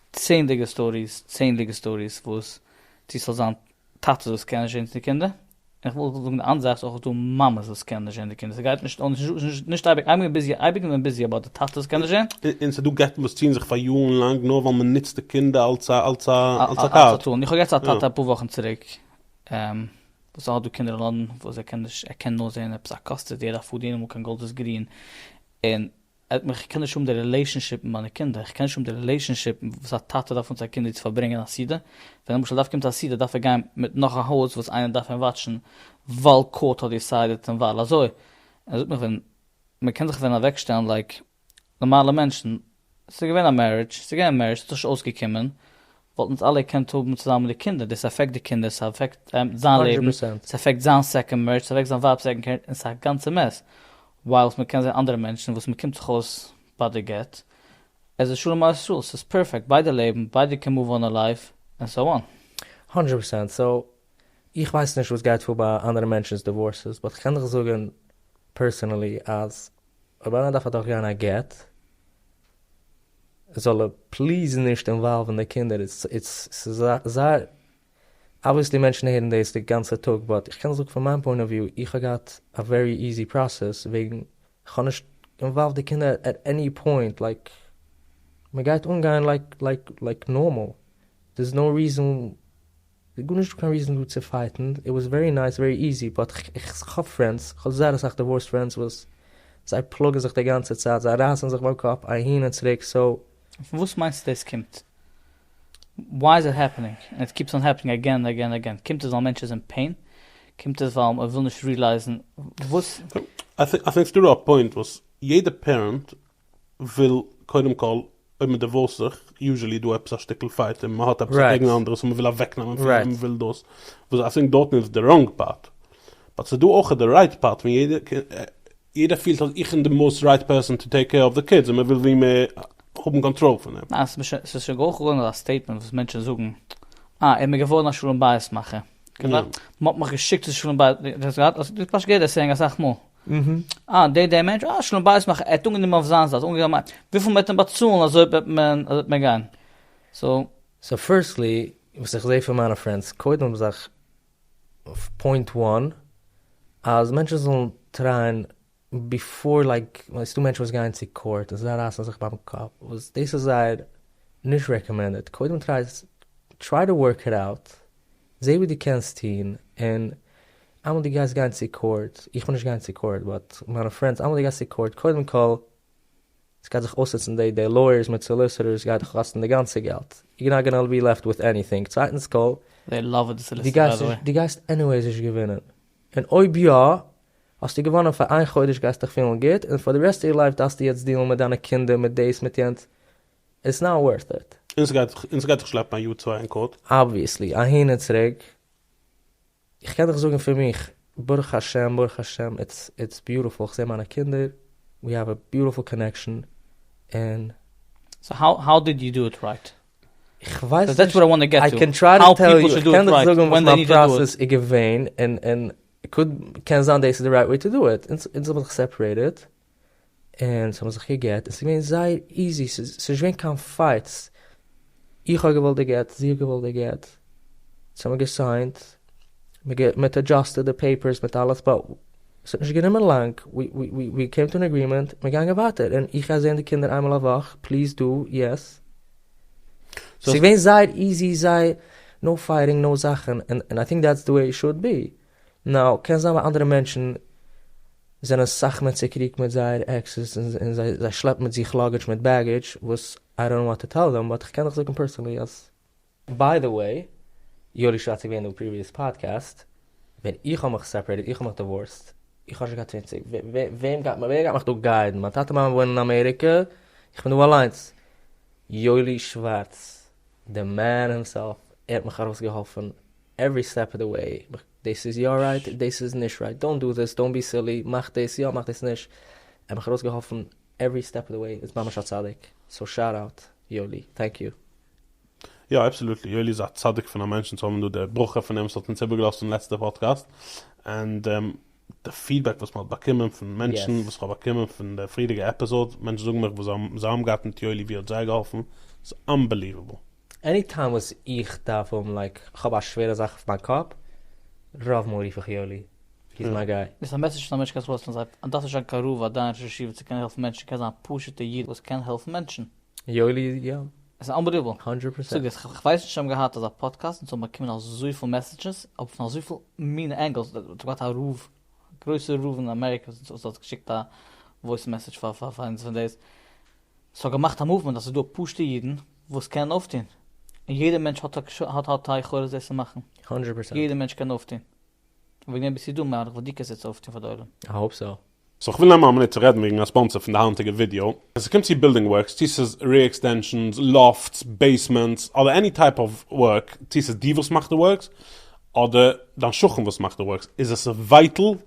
צענדליגע סטאריס צענדליגע סטאריס וואס צו ס'זאל זיין טאטעס וואס קענען נישט ערזעצן די קינדער, און איך וויל זאגן די אנדערע זייט ס'איז אויך דא מאמעס וואס קענען נישט ערזעצן די קינדער ס'גייט נישט אן נישט אייביג אייביג איז ביזי אייביג איז מען ביזי אבער די טאטעס קענען נישט ער. און ס'דא גט'ן וואס ציען זיך פאר יארן לאנג נאר ווייל מען נוצט די קינדער אלס א אלס א אלס א קארד. איך האב יעצט א טאטע אפאר וואכן צוריק וואס האט דא קינדער אין לאנדאן וואס ער קען נישט ער קען נאר זען עפעס א קאסטעדי ער דארף פארדינען אמאל קיין גאלדערס גרין און ער האט מיך, איך קען נישט האבן די רילעישאנשיפ מיט מיינע קינדער, איך קען נישט האבן די רילעישאנשיפ וואס א טאטע דארף מיט זיין קינד ווי צו פארברענגען א סעודה, ווען למשל דארף קומט א סעודה דארף ער גיין מיט נאך א הויז וואס איינער דארף אים וואטשן ווייל קאורט האט דיסיידעט און ווייל אזוי, און ער זאגט מיך ווען מען קען זיך ווען אוועקשטעלן לייק נארמאלע מענטשן, ס'איז געווען א מערידזש, ס'איז געווען א מערידזש, ס'האט זיך נישט אויסגעקומען, וואלטן אונז אלע געקענט האבן צוזאמען די קינדער, דאס אפעקט די קינדער, ס'אפעקט זיין לעבן, ס'אפעקט זיין סעקאנד מערידזש, ס'אפעקט זיין ווייב סעקאנד קערידזש, און ס'איז א גאנצע מעס, ווייל מ'קען זען אנדערע מענטשן וואס מ'קומט זיך אויס ביי די גט, עס איז שלום על ישראל, ס'איז פערפעקט, ביידע לעבן, ביידע כמובן עליו, ענד סאו אן. הונדרעט פערצענט, סאו איך ווייס נישט וואס גייט פאר ביי אנדערע מענטשנ'ס דיווארסעס, באט כ'קען דיך זאגן פערסענעלי אז אויב איינער דארף אדורכגיין א גט, זאל ער פליז נישט אינוואלוון די קינדער, איטס זייער. אבוויעסלי מענטשן הערן דאס די גאנצע טאג באט איך קען זאגן פון מיין פוינט אוו וויו איך האב געהאט א ווערי איזי פראסעס וועגן כ'האב נישט אינוואלווד די קינדער עט עני פוינט לייק מ'גייט אנגיין לייק לייק לייק נארמאל דערס נאו ריזען גארנישט דא קיין ריזען דא צו פייטן איט וואס ווערי נייס ווערי איזי באט כ'האב פרענדס כ'האב זייער אסאך דיווארסט פרענדס וואס זיי פלאגן זיך די גאנצע צייט זיי רייסן זיך ביים קאפ אהין און צוריק סאו פון וואס מיינסטו דאס קומט? וויי איז איט העפענינג ענד איט קיפס אן העפענינג אגעין ענד אגעין ענד אגעין? קומט עס ווייל מענטש איז אין פעין? קומט עס ווייל מען וויל נישט רילייזן וואס? איי טינק סאיז דא א פוינט וואס יעדע פערענט וויל קודם כל אויב מען דיווארסט זיך יוזשעלי איז דא עפעס א שטיקל פייט און מען האט עפעס א קעגן א אנדערע סאו מען וויל אוועקנעמען פון אים מען וויל דאס וואס איי טינק דארטן איז די ראנג פארט באט סאיז דא אויך די רייט פארט ווען יעדער יעדער פילט אז איך בין די מאוסט רייט פערסאן טו טעיק קעיר אויף די קידס און מען וויל ווי מער האבן קאנטראל פון אים. ניין, ס'איז נישט, ס'איז שוין געהויכט געווארן אזא סטעיטמענט וואס מענטשן זאגן, אה, ער מיר געווארן א שלום בית מאכער. כמעט, מ'האט מיך געשיקט צו שלום בית, דו האסט געהאט, דו האסט פשוט געהערט די סעיאינג אסאך מאל. אה, דער דער מענטש, אה, שלום בית מאכער, ער האט אנגענומען אויף זיין זייט, אנגענומען, וויפיל מ'וועט אים באצאלן אזוי וועט מען, אזוי וועט מען גיין. סאו. סאו פירסטלי, וואס איך זעה פון מיינע פרענדס, קודם האבן זיך פוינט וואן, אז מענטשן זאלן טרייען ביפאר לייק, ס'דא מענטשן וואס גייען צו קאורט און זיי רייסן זיך ביים קאפ, וואס דאס איז זייער נישט רעקאמענדעד, קודם טריי טריי טו ווארק איט אוט, זע וואס דו קענסט טון, און איינמאל דו גייסט גיין צו קאורט, איך בין נישט געגאנגען צו קאורט באט מיינע פרענדס, איינמאל דו גייסט צו קאורט קודם כל. עס גייט זיך אויסנוצן די די לויערס מיט סאליסעטערס גייט דיך קאסטן די גאנצע געלט, יור נאט גאנא בי לעפט וויט עניטינג, צווייטנס קאל, זיי לאווען די סאליסעטער ביי די וועי. די גייסט עניוועיס נישט געווינען, און אויב יא האסטו געוואנען פאר איין חודש גייסט דיך פילן גוט, און פאר די רעסט אוו יור לייף דארפסטו יעצט דיעלן מיט דיינע קינדער מיט דאס מיט יענץ, איטס נאט ווארט איט. און ס'גייט דיך שלעפן א יאר צוויי אין קאורט. אבוויעסלי, אהין און צוריק. איך קען דיך זאגן פון מיך, ברוך השם ברוך השם איטס איטס ביוטעפול, איך זעה מיינע קינדער, ווי האוו א ביוטעפול קאנעקשאן, און. סאו האו האו דיד יו דא איט רייט? איך ווייס נישט, דעטס וואט איי וואנט טו געט טו, קען טריי טו טעל יו, איך קען דיך זאגן וואס מיין פראסעס איז געווען, און און קוד קען זיין דאס איז די רייט וועי טו דא איט, אונז האבן זיך סעפערעיטעד, און ס'האבן זיך געגעט און ס'איז געווען זייער איזי ס'איז נישט געווען קיין פייטס, איך האב געוואלט די גט, זי האט געוואלט די גט, ס'האמיר געסיינט, מ'האט עדזשאסטעד די פעיפערס מיט אלעס, באט ס'האט נישט גענומען לאנג, ווי קעים טו אן עגרימענט און מ'גאנגען ווייטער, און איך גיי זעהן די קינדער איינמאל א וואך, פליז דו, יעס. ס'איז געווען זייער איזי, זייער נאו פייטינג, נאו זאכן, און איי טינק דעטס די וועי איט שוד בי. נאו, קען זיין ביי אנדערע מענטשן זענען סאך מער צוקריגט מיט זייער עקסעס און זיי שלעפן מיט זיך לאגעדזש מיט בעגעדזש וואס איי דאנט נאו וואט טו טעל דעם באט איך קען דיך זאגן פערסאנלי אז ביי די וועי יואלי שרייבט איז געווען אין די פריוויעס פאדקעסט ווען איך האב מיך סעפערעיטעד איך האב מיך דיווארסט איך האב נישט געהאט צוואנציג וועם גייט ווער גייט מיך דא גיידן מיין טאטע מאמע וואוינען אין אמעריקע איך בין דא אליינס יואלי שווארץ די מען הימסעלף ער האט מיך ארויסגעהאלפן עוורי סטעפ אוו די וועי, דאס איז יא רייט, דאס איז נישט רייט, דאונט דא דיס, דאונט בי סילי, מאך דאס יא, מאך דאס נישט, ער האט מיך ארויסגעהאלפן עוורי סטעפ אוו די וועי, איז ממש א צדיק, סאו שאוט אוט יואלי, טענק יו. יא אבסעלוטלי, יואלי איז א צדיק פון א מענטשן צו האבן דא די ברכה פון אים, עס האט אונז איבערגעלאזט אין לעצטע פאדקעסט, ענד די פידבעק וואס מען האט באקומען פון מענטשן, וואס איך האב באקומען פון די פריערדיגע עפיזאדס, מענטשן זאגן מיך וואס זיי האבן געהאט מיט יואלי ווי ער האט זיי געהאלפן, איז אנבעליוועבל. עני טיים וואס איך דארף האבן לייק כ'האב א שווערע זאך אויף מיין קאפ, רוב מאל רוף איך יואלי, הי איז מיי גיי. ביסט א מעסעדזש פון א מענטש קענסט וואויס טראנסלעיט, און דארפסט נישט זיין קיין רב אדער א ראש ישיבה צו קענען העלפן מענטשן, קענסט זיין א פשוט'ע איד וואס קען העלפן מענטשן. יואלי איז יא. עס איז אנבעליוועבל. האנדרעט פארסענט. זאג עס, כ'ווייס נישט צו זיי האבן געהאט אזא פאדקעסט און צו האבן באקומען אזויפיל מעסעדזשעס אויף פון אזויפיל מינע ענגעלס, דו האסט געהאט א רב, גרויסע רב אין אמעריקע וואס האט געשיקט א וואויס מעסעדזש פאר אונז פון דאס. ס'האט געמאכט א מאוומענט אז ס'איז דא פשוטע אידן וואס קענען אויפטון, און יעדער מענטש האט האט האט א יכולת דאס צו מאכן, הונדרעט פערסענט. יעדער מענטש קען אויפטון, און וועגן דעם ביסטו דא מהלך וואס דו קענסט יעצט אויפטון פאר די עולם. איי האופ סאו. סאו כ'וויל נעמען א מינוט צו רעדן וועגן א ספאנסער פון די היינטיגע ווידיאו. ווען ס'קומט צו בילדינג ווארקס, צו ס'איז רעיר עקסטענשאנס, לאפטס, בעיסמענטס, אדער עני טייפ אוו ווארק, צו ס'איז דו וואס מאכסט די ווארקס, אדער דיין שכן וואס מאכט די ווארקס, איז עס ווייטעל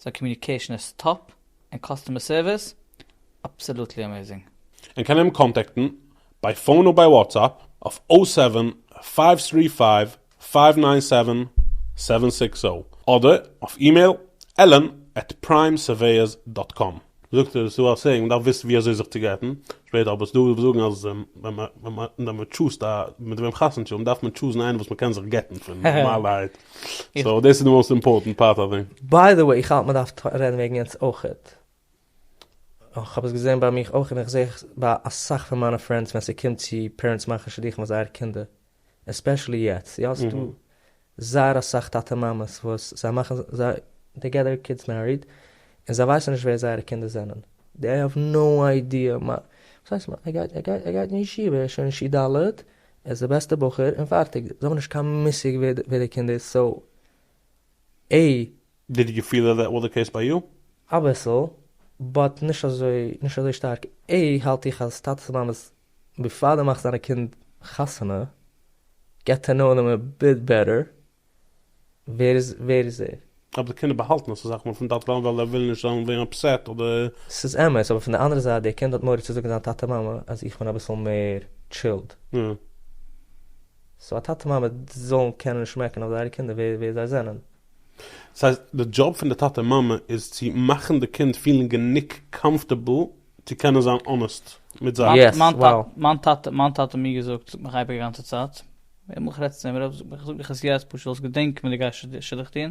זיין קאמיוניקעישן איז טאפ, און קאסטומער סערוויס אבסעלוטלי אמעיזינג. און קען אים קאנטעקטן ביי פאון אויב ביי וואטסאפ אויף או סעווען פייוו טרי פייוו פייוו ניין סעווען סעווען סיקס זערא אדער אויף אימעיל, allen עט פריים סערוועיערס דאט קאם. זאגט ער, ס'איז דא א סעיאינג, מ'דארף וויסן ווי אזוי זיך צו גט'ן, שפעטער האב איך עס דא וואס זאגן אז ווען מ'טשוזט א מיט וועם חתונה טון, דארף מען טשוזן איינעם וואס מ'קען זיך גט'ן פון נארמאלערהייט, סאו דאס איז די מאוסט אימפארטענט פארט אוו דעם. ביי די וועי, איך האלט מ'דארף רעדן וועגן יענץ אויכעט, כ'האב עס געזען ביי מיך אויך און איך זעה ביי אסאך פון מיינע פרענדס ווען ס'קומט צו פערענטס מאכן שידוכים פאר זייערע קינדער. עספעשעלי יעצט, יא ס'דא זייער אסאך טאטע מאמעס וואס זיי מאכן זיי דעי געט דעיר קידס מעריד און זיי ווייסן נישט ווער זייערע קינדער זענען, דעי האוו נאו איידיע, וואס הייסט מ א גייט ער גייט ער גייט אין ישיבה ער איז שוין אין ש ד ער איז די בעסטע בחור און פארטיג, זיי האבן נישט קיין מושג ווער די קינד איז, סאו עה. דיד יו פיל איט וואס די קעיס ביי יו? אביסל, באט נישט אזוי נישט אזוי שטארק, עה האלט איך אז טאטעס מאמעס ביפאר די מאכסט דיינע קינד חתונה געט טו נאו דעם אביט בעטער ווער איז ווער איז ער. אבער די קינדער באהאלטן עס אסאך מאל פון טאטע מאמע ווייל זיי ווילן נישט זיין ווערן אפסעט אדער. ס'איז אמת, אבער פון די אנדערע זייט דער קינד האט מורא צו זאגן זיין טאטע מאמע אז איך בין אביסל מער טשילד. יא. סאו א טאטע מאמע זאלן קענען שמעקן אויף זייערע קינדער ווער ווער זיי זענען. דאס הייסט די דזשאב פון די טאטע מאמע איז צו מאכן די קינד פילן גענוג קאמפטעבל צו קענען זיין אנעסט מיט זיי. יעס, וואו. מיין טאטע מיין טאטע האט מיר געזאגט זאגט מיך אייביג די גאנצע צייט, ווען איך רעד צו אים, איך זאג מיך עס יעצט פשוט זאלסט געדענקן ווען דו גייסט שידוך טון,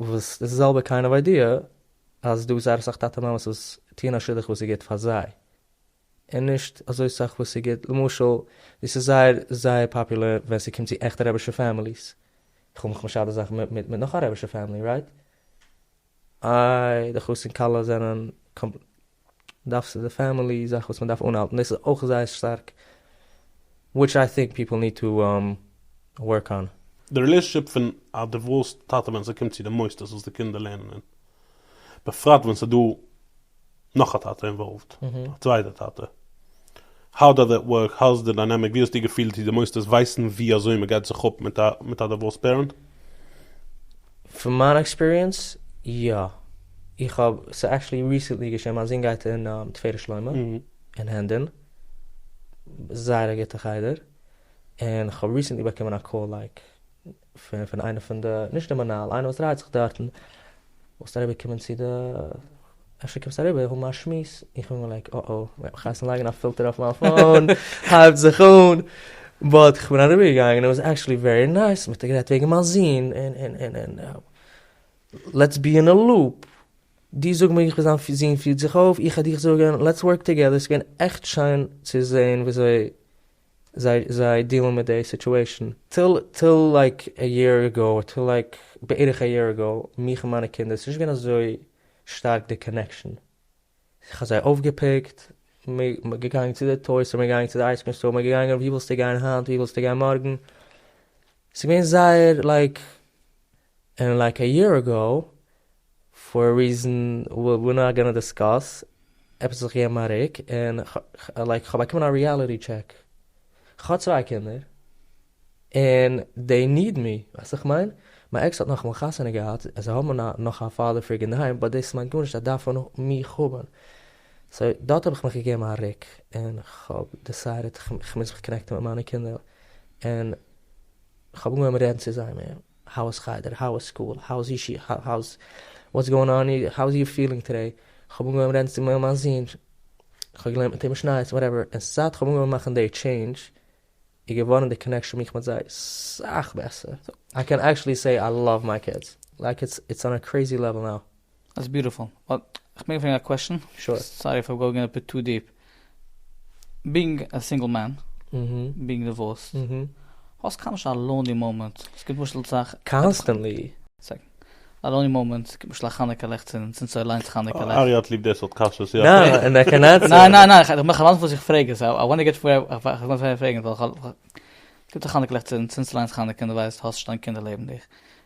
וואס די זעלבע קיינד אוו איידיע אז דא איז זייער אסאך טאטע מאמעס וואס טוען א שידוך וואס איז גוט פאר זיי און נישט אזוי סאך וואס איז גוט למשל דאס איז זייער זייער פאפולער ווען ס'קומט צו עכטע רעבישע פעמיליס, איך האב מיך משדך די זאך מיט מיט נאך א רעבישע פעמילי רייט? איי די חתן כלה זענען דארף ס'איז די פעמילי זאך וואס מ'דארף אנהאלטן דאס איז אויך זייער שטארק וויטש איי טינק פיפל ניד טו ווארק אן. די רילעישאנשיפ פון א דיווארסד טאטע ווען ס'קומט צו די מוסדות וואס די קינדער לערנען אין, בפרט ווען ס'דא נאך א טאטע אינוואלווד, א צווייטע טאטע, האו דאז איט ווארק? האו איז די דיינעמיק? ווי האסטו געפילט צו די מוסדות ווייסן ווי אזוי מען גייט זיך אפ מיט א דיווארסד פערענט? פון מיין עקספיריענס, יא. איך האב, ס'איז עקטשעלי ריסענטלי געשען, מיין זון גייט אין תפארת שלמה אין הענדען, זייער א גוטע חדר, און כ'האב ריסענטלי באקומען א קאל לייק. פון פון איינע פון די, נישט די מנהל, איינער וואס דרייט זיך דארטן, זאלסט אריבער קומען צו די, אפשר קומסט אריבער האבן א שמועס, איך בין געווען לייק אה אה, מ'העט מיך הייסן לייגן א פילטער אויף מיין פאון, הייבט זיך אן, באט כ'בין אריבער געגאנגען און איט וואס עקטשעלי ווערי נייס, מ'האט גערעדט וועגן מיין זון, און און און און לעטס בי אין א לופ, דו זאג מיר איך בין זיין זון פירט זיך אויף, איך וועל דיר זאגן, לעטס ווארק טאגעדער, ס'איז געווען עכט שיין צו זען וויאזוי. זיי זיי דילן מיט די סיטועשן. טיל טיל לייק א יער עגאו אר טיל לייק בערך א יער עגאו מיך און מיינע קינדער ס'נישט געווען אזוי שטארק די קאנעקשן כ'האב זיי אויפגעפיקט מ'איז געגאנגען צו די טוי סטאר מ'איז געגאנגען צו די אייזקרים סטאר מ'איז געגאנגען ווי ווילסטו גיין היינט ווי ווילסטו גיין מארגן ס'איז געווען זייער לייק ענד לייק א יער עגאו, פאר א ריזען וויר נאט גאנא דיסקאס, עפעס האט זיך געגעבן א ריק, און לייק כ'האב באקומען א ריעליטי טשעק, כ'האב צוויי קינדער, און דעי ניד מי, ווייסט וואס כ'מיין? מיין עקס האט נאכאמאל חתונה געהאט, זיי האבן נאך א פאדער פיגור אינדערהיים, באט דאס מיינט גארנישט זיי דארפן מיך האבן, סאו דארט האב איך מיך געגעבן א ריק, און כ'האב דיסיידעט כ'מוז זיך קאנעקטן מיט מיינע קינדער, און כ'האב אנגעהויבן רעדן צו זיי מער. האו איז חדר? האו איז סקול? האו איז אישי? האו איז וואטס גאוינג אן אי האו איז יור פילינג טודעי? כ'האב אנגעהויבן רעדן צו מיין זון, כ'האב געלערנט מיט אים משניות, וואטעווער, און זייט כ'האב אנגעהויבן מאכן די טשעינדזש איז געווארן די קאנעקשאן מיך מיט זיי סאך בעסער, איי קען עקטשעלי סעי איי לאוו מיי קידס, לייק איטס אן א קרעיזי לעוועל נאו. דאס ביוטיפול, באט כ'מעג פרעגן א קוועשן? שור. סארי איף איים גאוגינג א ביט טו דיעפ. בינג א סינגל מען, בינג דיווארסד, האסט קיינמאל נישט א לאוני מאמענט? עס גיבט למשל צו א. קאנסטענטלי. א לאוני מאמענט, עס גיבט למשל א חנוכה לעכצן, זינט ס'איז אליינס חנוכה לעכט. ארי' האט ליב די סארט קשיות, יא. נאר אין א קנאת סם. ניין ניין ניין, איך מאך אליינס וואס איך פרעג, סאו איי וואנט טו געט ווער איך וויל פרעגן, ווייל כ'האב. גיבט א חנוכה לעכצן, זינט ס'איז אליינס חנוכה און דו ווייסט האסט נישט דיין קינדער לעבן דיך,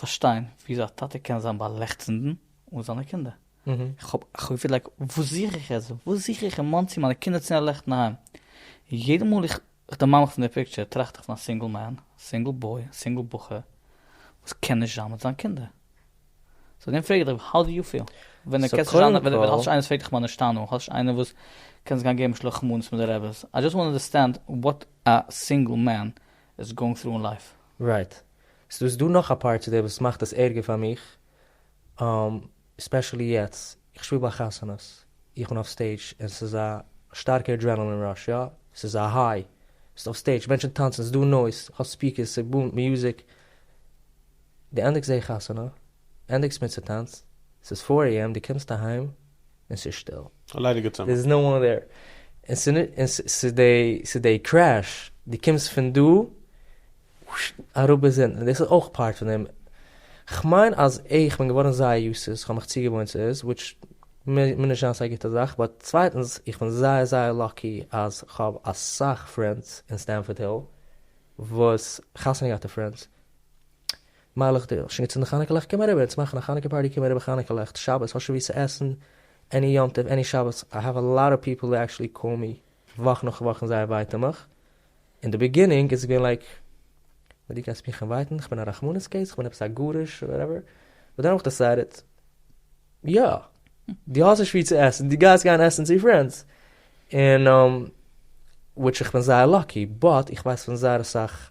פארשטיין וויאזוי א טאטע קען זיין ביי לעכצנדן אן זיינע קינדער. איך האב געפיהלט לייק וואס זוך איך יעצט? וואס זוך איך אין מאנסי מיינע קינדער צו נעלעכטן אהיים? יעדע מאל איך דערמאן מיך פון די פיקטשער טראכט איך פון א סינגל מען, סינגל בוי, סינגל בחור וואס קען נישט זיין מיט זיין קינדער. סאו דעם פרעג איך דיך האו די יו פיל? ווען די קענסט נישט זיין, ווען האסט נישט איינער וואס פרעגט דיך מנשתנו, האסט נישט איינער וואס קענסט גיין געבן שלח מנות מיט די רעבעס, איי דזשאסט וואנט טו אנדערסטענד וואט א סינגל מען איז גאוינג טרו אין לייף. רייט. סאו איז דא נאך א פארט צו דעם וואס מאכט עס ערגער פאר מיך, ספעשעלי יעצט, איך שפיל ביי חתונות, איך בין אויף סטעידזש און ס'איז א שטארקע אדרענעלין ראש, יא, ס'איז א היי, ביסט אויף סטעידזש, מענטשן טאנצן, ס'איז דא נויז, כ'האב ספיקערס, ס'בומט, מוזיק, דו ענדיגסט די חתונה, ענדיגסט מיט ס'טאנץ, ס'איז פֿיר עי עם, דו קומסט אהיים, און ס'איז שטיל. א ליידיגע צימער. דער איז נאו וואן דער. און ס'איז די קרעש, דו קומסט פון דא אראפ ביז אונטן, דאס איז אויך פארט פון דעם. כ'מיין אז איך בין געווארן זייער יוסט צו עס, כ'האב מיך צוגעוואוינט צו עס, וויטש מוז נישט זיין סיי גוטע זאך, באט צווייטנס, איך בין זייער זייער לאקי אז כ'האב אסאך פרענדס אין סטענפארד היל וואס חתונה געהאטע פרענדס מיילעך די שוין געצינדן חנוכה לעכט קום אריבער אונז מאכן א חנוכה פארטי קום אריבער חנוכה לעכט שבת האסט שוין ווי צו עסן עני יום טוב עני שבת איי העוו א לאט אוו פיפל ווי עקשעלי קאל מי וואך נאך וואך און זייער ווייטען מיך אין די ביגינינג איז עס געווען לייק וואט דו קענסט מיך אינווייטן כ'בין א רחמנות קעיס כ'בין עפעס א גרוש אדער וואטעווער באט דען האב איך דעסיידעט יא דו האסט נישט ווי צו עסן דו גייסט גיין עסן צו פרענדס און וויטש כ'בין זייער לאקי באט איך ווייס פון זייער אסאך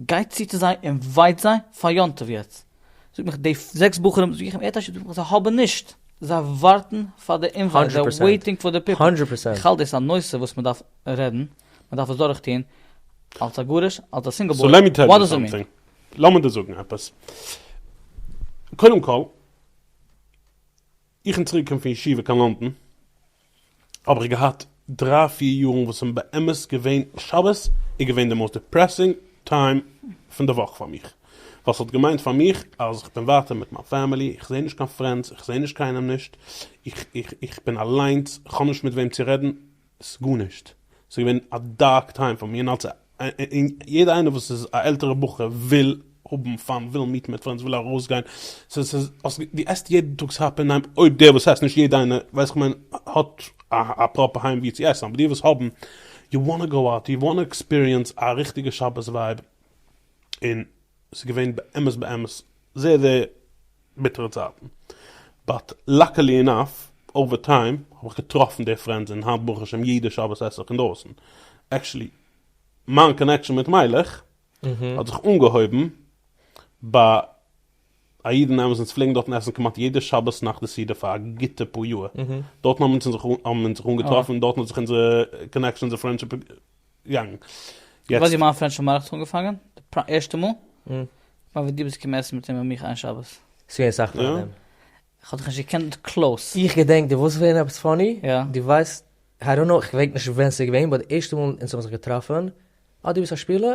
גיי צו צו זיי און ווייז זיי פאר יום טוב יעצט, זאג מיך די זעקס בחורים וואס זוכן ערטעשי זאג מיך זיי האבן נישט, זיי ווארטן פאר די אינווייט, זיי וועיטינג פאר די פיפל, איך האלט דאס א נושא וואס מען דארף רעדן, מען דארף עס דורך טון, אלס א גרוש, אלס א סינגל בוי, וואט דאס איט מין? לאמיר דיר זאגן עפעס, קודם כל, איך בין צוריק געקומען פון ישיבה קיין לאנדאן, האב איך געהאט דריי פיר יארן וואס האבן באמת געווען שבת איז געווען די מאוסט דיפרעסינג טיים פון די וואך פאר מיך ווייל ס'האט געמיינט פאר מיך אז איך בין ווייטער מיט מיין פעמילי איך זעה נישט קיין פרענדס איך זעה נישט קיינעם נישט איך איך איך בין אליינס איך האב נישט מיט וועם צו רעדן ס'גארנישט ס'איז געווען א דארק טיים פאר מיר און אלס א און יעדער איינער וואס איז א עלטערע בחור וויל האבן פאן וויל מיטן מיט פרענדס וויל ארויסגיין סאיז סאיז דו עסט יעדן טאג סאיז האפ און ניין אויב דער וואס עסט נישט יעדע איינער ווייס איך מיין האט א פראפער היים ווי צו עסן אבער די וואס האבן יו וואנט טו גאו אוט יו וואנט טו עקספיריענס א ריכטיגע שבת ווייב און. עס איז געווען באמת באמת זייער זייער ביטערע צייטן, באט לאקעלי אינאף אווער טיים האב איך געטראפן די פרענדס און היינט ברוך השם יעדע שבת עס איך אינדרויסן, עקשעלי מיין קאנעקשאן מיט מיילעך האט זיך אנגעהויבן ביי א איד אין אמת אונז פלעגן דארטן עסן כמעט יעדע שבת נאך די סעודה פאר א גוטע פאר יאר, דארטן האבן אונז זיך אנגעטראפן און דארטן האט זיך אונזער קאנעקשאן אונזער פרענדשיפ יענג. יעצט. ווייס ווי מיין פרענדשיפ מיט מיין רח האט אנגעפאנגען, די ערשטע מאל. און? כ'מיין ווען דו ביסט געקומען עסן מיט אים און מיך איין שבת. ס'איז געווען אסאך פאר דעם. כ'האב דיך נישט געקענט קלאוס. איך געדענק דו ווילסט ווערן עפעס פאני? יא. דו ווייסט, איי דאנט נאו, כ'געדענק נישט ווען ס'איז געווען, באט די ערשטע מאל אונז האבן זיך געטראפן, אה דו ביסט א שפילער?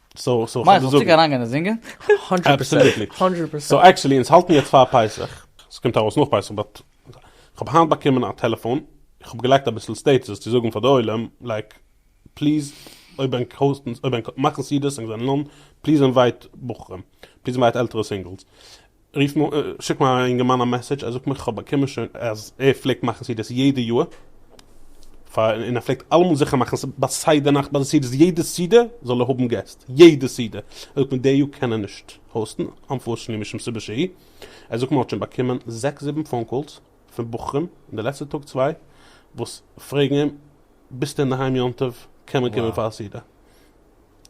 סאו סאו כ'וועל זאגן. מייך אריינגיין און זינגען? האנדרעט פערסענט. האנדרעט פערסענט. סאו עקטשעלי אונז האלטן יעצט פאר פסח, ס'קומט ארויס נאך פסח באט, כ'האב היינט באקומען א טעלעפאן, איך האב געלייגט אביסל סטעטוס'ס צו זאגן פאר די עולם לייק פליז אויב ענק האוסטן אויב ענק מאכן סעדות ענק זענען אן פליז אינווייט בחורים, פליז אינווייט עלטערע סינגלס, רוף מיר אן, שיק מיר א אינגערמאן א מעסעדזש, ער זאגט מיר כ'האב באקומען שוין אז ער פלעגט מאכן סעודות יעדע יאר, פאר און ער פלעגט אלעמאל זיכער מאכן ביי סדר נאכט ביי די סעודות יעדע סעודה זאל ער האבן געסט, יעדע סעודה, ער זאגט מיר די יאר קען ער נישט האוסטן, אנפארשנלי משום סיבה שהיא, ער זאגט מיר האט שוין באקומען זעקס זיבן פאון קאלס פון בחורים אין די לעצטע טאג צוויי וואס פרעגן אים ביסטו אינדערהיים יום טוב קען מען קומען פאר א סעודה.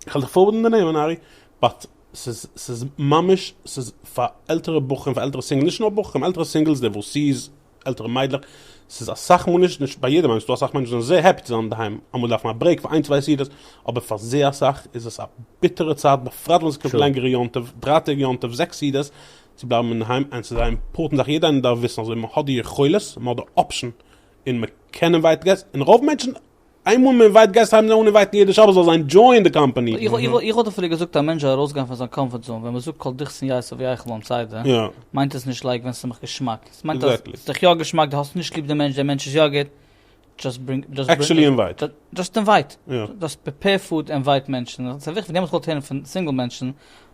כ'על דיך פארווערדן מיט די נעמען ארי, באט ס'איז ס'איז ממש ס'איז פאר עלטערע בחורים פאר עלטערע סינגלס, נישט נאר בחורים, עלטערע סינגלס, דיווארסיס, עלטערע מיידלעך, ס'איז אסאך מאל נישט נישט ביי יעדעם, איי מיען ס'דא אסאך מענטשן וואס זענען זייער העפי צו זיין אינדערהיים, אמאל דארף מען א ברעיק פאר איין צוויי סעודות, אבער פאר זייער אסאך איז עס א ביטערע צייט בפרט ווען ס'קומט True. לענגערע יום טוב, דריי טעג יום טוב, זעקס סעודות, צו בלייבן אינדערהיים, און ס'איז א אימפארטענט זאך, יעדער איינער דארף וויסן אז אויב מ'האט די יכולת, מ'האט די אפשן, און מ'קען אינווייטעד געסט, און רוב מענטשן איינמאל מען אינווייט גייסטו הייבן זיי אן אינווייטן יעדע שבת זאל זיין דזשוין די קאמפאני. איך וואלט אפילו געזאגט א מענטש זאל ארויסגיין פון זיין קאמפארט זאון, ווען מ'זאגט כל דכסין יעשה ויחל אן ציידע, מיינט עס נישט לייק ווען ס'איז מיך געשמאק, עס מיינט אז ס'איז דיך יא געשמאק, די האסט נישט ליב די מענטש, די מענטש איז יא גוט, דזשאסט ברינג, עקשעלי אינווייט, דזשאסט אינווייט, דזשאסט פריפעיר פוד אינווייט מענטשן, ס'איז וויכטיג, דעמאלטס כ'וואלט הערן פון סינגל מענטשן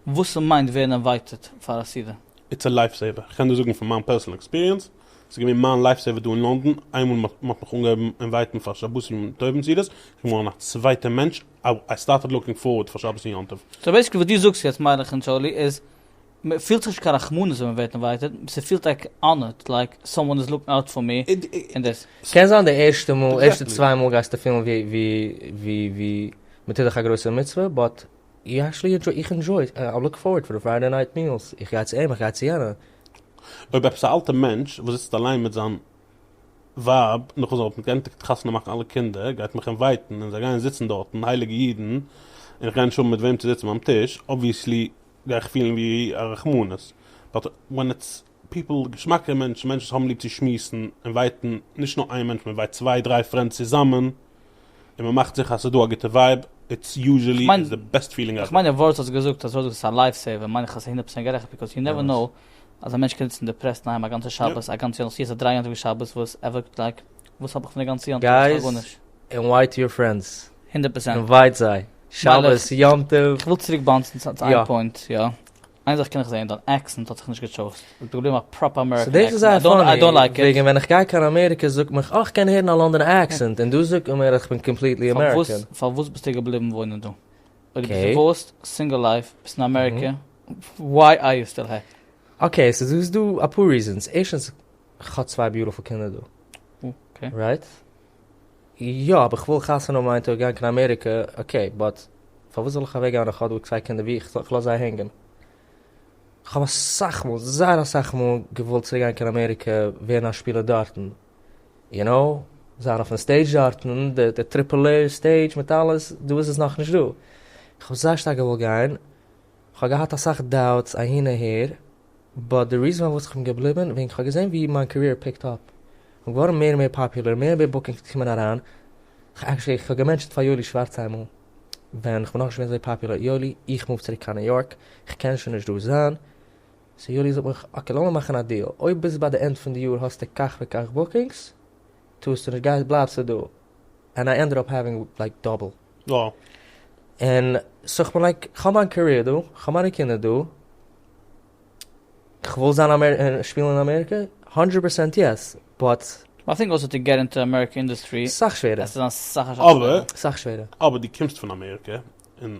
וואס ס'מיינט ווערן אינווייטעד פאר א סעודה. איטס א לייף סעיווער, כ'קען דיר זאגן פון מיין פערסענעל עקספיריענס, ס'איז געווען מיין לייף סעיווער דא אין לונדון, איינמאל מ'האט מיך אנגעהויבן אינווייטן פאר שבת יום טוב און סעודות, איז געווארן א צווייטע מענטש, איי סטארטעד לוקינג פארווארד פאר שבת און יום טוב. סאו בעיסיקלי וואס דו זאגסט יעצט מיינעך און טשארלי איז, מ'פילט זיך נישט קיין רחמנות ווען מ'ווערט אינווייטעד, ס'פילט לייק אנערט, לייק סאמאן איז לוקינג אוט פאר מי, און דאס. קען זיין די ערשטע מאל, ערשטע צוויי מאל גייסטו פילן ווי ווי ווי מ'טוט דיך א גרויסע מצוה, באט איך עקטשעלי ענדשוי, איך ענדשוי, איי לוק פארווארד פאר די פריידעי נייט מיעלס, איך גיי צו אים, איך גיי צו יענע, אויב עפעס א אלטע מענטש וואס זיצט אליין מיט זיין ווייב נאכן זיי האבן גענדיגט חתונה מאכן אלע קינדער גייט מיך אינווייטן און זיי גייען זיצן דארטן הייליגע אידן און כ'גיי נישט האבן מיט וועם צו זיצן ביים טיש אבוויעסלי גיי איך פילן ווי א רחמנות באט ווען איטס פיפל געשמאקע מענטשן מענטשן וואס האבן ליב צו שמועסן אינווייטן נישט נאר איין מענטש מען אינווייט צוויי דריי פרענדס צוזאמען. און מען מאכט זיכער אז ס'איז דא א גוטע ווייב, איטס יוזשעלי איטס די בעסט פילינג עווער. איך מיין די ווארט האסט געזאגט אז הודו איז א לייף סעיווער מיין איך אז ס'איז הונדערט פראצענט גערעכט ביקאוז יו נעווער נאו אז א מענטש קען זיצן דיפרעסט אינאיינעם א גאנצע שבת א גאנץ יאר נאך צו עס א דריי יאנטעוו שבת וואס ער וועט לייק וואס האב איך פון די גאנצע יאנטעוו האב איך שוין גארנישט. גייז אינווייט יור פרענדס הונדערט פראצענט אינווייט זיי שבת יאנטעוו. איך וויל צוריק באונסן צו איין פוינט יא. איין זאך קען איך זעהן, דיין עקסענט האט זיך נישט געטשויזט, עס איז געבליבן א פראפער אמעריקען עקסענט, איי דאנט לייק איט. וועגן ווען איך גיי קיין אמעריקע זאגט מען איך קען הערן א לאנדאנע עקסענט און דא זאגט מען מיר איך בין קאמפליטלי אמעריקען. פארוואס ביסטו געבליבן וואוינען דא? אויב דו ביסט דיווארסט, סינגל לייף, ביסט אין אמעריקע, וויי אר יו סטיל הער? אקעי סאו ס'איז דא אפאר ריזענס, ערשטענס איך האב צוויי ביוטיפול קינדער דא, רייט? יא אבער כ'וויל חתונה האבן איין טאג גיין קיין אמעריקע אקעי באט פארוואס זאל איך אוועק גיין און כ'האב דא צוויי קינדער ווי איך זאל כ'לאז זיי הענגען כ'האב אסאך מאל זייער אסאך מאל געוואלט צוריק גיין קיין אמעריקע ווערן א שפילער דארטן יו נאו זיין אויפן סטעידזש דארטן די די טריפל עי סטעידזש מיט אלעס דא איז עס נאכנישט דא כ'האב זייער שטארק געוואלט גיין כ'האב געהאט אסאך דאוטס אהין אהער. באט די ריזען פארוואס כ'בין געבליבען וועגן כ'האב געזען ווי מיין קעריער פיקט אפ און געווארן מער און מער פאפולער מער און מער בוקינגס קומען אריין עקשעלי כ'האב געמענטשעט פאר יואלי שווארץ איינמאל ווען כ'בין נאכנישט געווען אזוי פאפולער יואלי איך מוף צוריק קיין ניו יארק כ'קען שוין נישט דא זיין סאו יואלי זאגט מיך אקעי לאמיר מאכן א דיעל אויב ביז ביי די ענד פון די יאר האסטו כך וכך בוקינגס טוסטו נישט גייסט בלייבסטו דא ענד איי ענדעד אפ העווינג לייק דאבל און סאו כ'בין לייק כ'האב מיין קעריער דא כ'האב מיינע קינדער דא כ'וויל זיין און שפילן אין אמעריקע האנדרעט פערסענט יעס באט. אבער אבער די קומסט פון אמעריקע און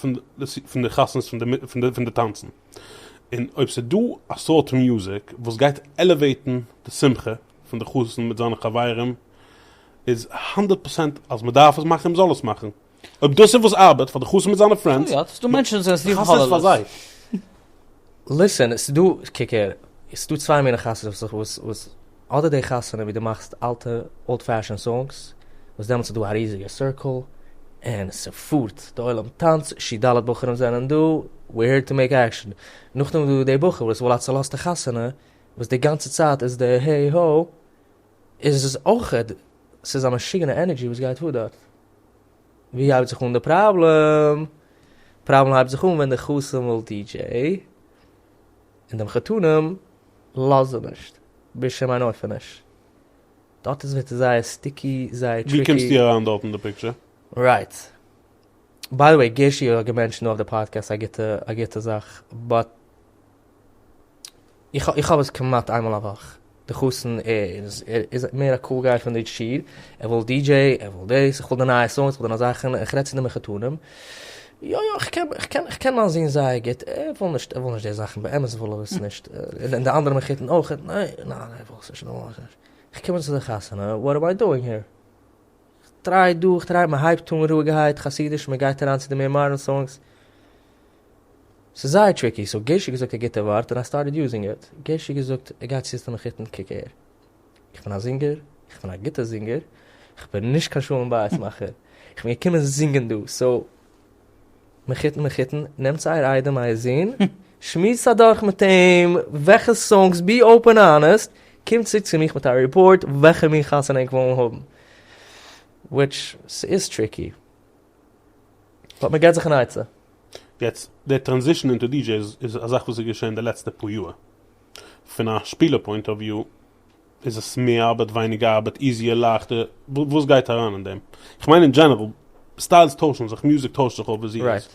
פון די חתונות פון די פון די טאנצן, און אויב ס'איז דא א סארט מוזיק וואס גייט עלעוועיטן די שמחה פון די חתן מיט זיינע חברים, איז הונדערט פראצענט אז מ'דארף עס מאכן און מ'זאל עס מאכן, אויב דאס איז וואס ארבעט פאר די חתן מיט זיינע פרענדס, מאך עס פאר זיי. ליסען, ס'איז דא, קוק הער, ס'איז דא צוויי מיני חתונות וואס איך וואס. אדער די חתונה ווי דו מאכסט אלטע אולד פעשען סאנגס, וואס דעמאלטס איז דא א ריזיגע סירקעל, און ס'פארט, די עולם טאנץ, שי ד בחורים זענען דא, ווי העיר טו מעיק עקשען, נאכדעם איז דא די בחור וואס וויל א צולאזטע חתונה, וואס די גאנצע צייט איז די העי הא, איז עס אויכעט, ס'איז א משוגענע ענערדזשי וואס גייט פאר דארט. ווי הייבט זיך אן די פראבלעם? פראבלעם הייבט זיך אן ווען די חתן וויל די דזשעי, און דעם חתנים לאזט זי נישט בשום אין אופן נישט, דארט איז ווערט עס זייער סטיקי זייער טריקי. ווי קומסטו אריין דארט אין די פיקטשער? רייט. ביי די וועי גערשי האט געמענטשענט אויף די פאדקעסט א גוטע א גוטע זאך באט איך איך האב עס כמעט איינמאל א וואך די חתן איז איז מער א קול גיי פון די שיר, ער וויל די דזשעי, ער וויל דאס, איך וויל די נייע סאונדס, איך וויל די נייע זאכן, איך רעד צו די מחותנים, יא יא איך קען איך קען איך קען מיין זון זייער גוט, ער וויל נישט ער וויל נישט די זאכן, באמת וויל ער עס נישט, און די אנדערע מחותן אויך, ניין ניין איך וויל עס נישט, איך וויל נישט, איך קום צו די חתונה, וואט עם איי דואינג הער? איך טריי דא איך טריי, מען הייבט אן רואיגערהייט חסידיש, מען גייט אריין צו די מער מאדערן סאונגס, ס'איז זייער טריקי, סאו געשי געזאגט א גוטע ווארט און איי סטארטעד יוזינג איט, געשי געזאגט ער גייט צוטון איך היטן קוק הער, איך בין א זינגער, איך בין א גוטע זינגער, איך בין נישט קיין שלום בית מאכער, איך בין געקומען זינגען דא, סאו מיך היטן מיך היטן, נעמטס אייער איידעם אייער זון, שמועסטס אדורך מיט אים וועלכע סאנגס, בי אופען און אנעסט, קומט צוריק צו מיך מיט א ריפארט וועלכע מין חתונה ענק וועלן האבן, וויטש ס'איז טריקי. באט מען געט זיך אן עצה. יעצט, דער טראנזישן אונטער די דזשעיס איז א זאך וואס איז געשען די לעצטע פאר יאר. פון א שפילער פוינט אוו וויו איז עס מער ארבעט ווייניגער ארבעט איזיער לייכטער וואס גייט אריין אין דעם? כ'מיין אין דזשענעראל סטיילס טוישן זיך מוזיק טוישט זיך אויף די זירוס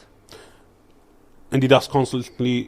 און די דארפסט קאנסטענטלי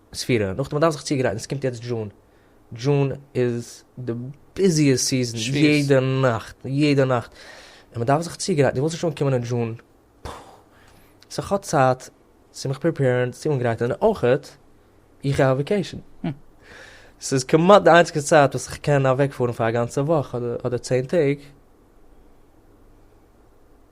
ספירה, נאכדעם מ'דארף זיך צוגרייטן, עס קומט יעצט דזשון, דזשון איז די ביזיעסט סיזען, יעדע נאכט, יעדע נאכט, און מ'דארף זיך צוגרייטן, דו ווילסט נישט אנקומען אין דזשון, פוי, סאו כ'האב צייט צו מיך פריפעירן, צו אנגרייטן, און אויכעט איך גיי אויף וואקעישן, ס'איז כמעט די איינציגסטע צייט וואס איך קען אוועקפארן פאר א גאנצע וואך אדער צען טעג.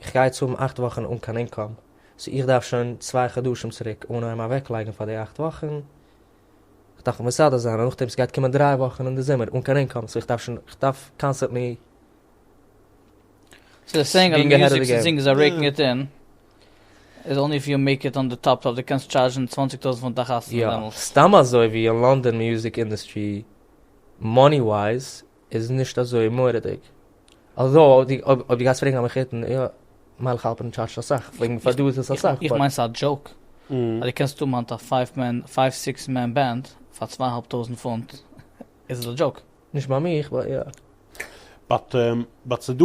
איך גיי יעצט האבן אכט וואכן אן קיין אינקאם, סאו איך דארף שוין צוויי חדשים צוריק אנהייבן אוועקלייגן פאר די אכט וואכן, איך דארף מסדר זיין, און נאכדעם ס'גייט קומען דריי וואכן אין די זומער אן קיין אינקאם, סאו איך דארף שוין, איך דארף קאנסטענטלי בינג אהעד אוו די געים. יא, סתם אזוי ווי אין לאנדאן מיוזיק אינדוסטרי מאני ווייז איז נישט אזוי מורא'דיג. אלזא, אויב דו גייסט פרעגן א מחותן, יא, מיילעך האלפערן טשארדזשט אסאך, פלעגן פאר דא איז עס אסאך. איך מיין ס'איז א דזשאוק, אז דו קענסט האבן היינט א פייוו מען, פייוו סיקס מען בענד פאר צוויי אהאלב טויזענט פונט, איז עס א דזשאוק. נישט ביי מיך, באט יא. באט ס'דא.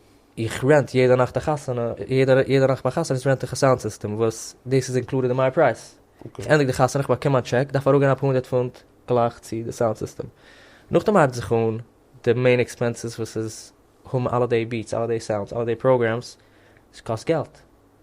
איך רענט יעדע נאכט א חתונה, יעדע נאכט ביי חתונות רענט איך א סאונד סיסטעם וואס דאס איז אינקלודעד אין מיין פרייז, איך ענדיג די חתונה איך באקום מיין טשעק דארף אראפגיין אפאר הונדערט פונט גלייך צו די סאונד סיסטעם, נאכדעם הייבט זיך אן די מעין עקספענסעס וואס איז האבן אלע די ביעטס אלע די סאונדס אלע די פראגרעמס, עס קאסט געלט,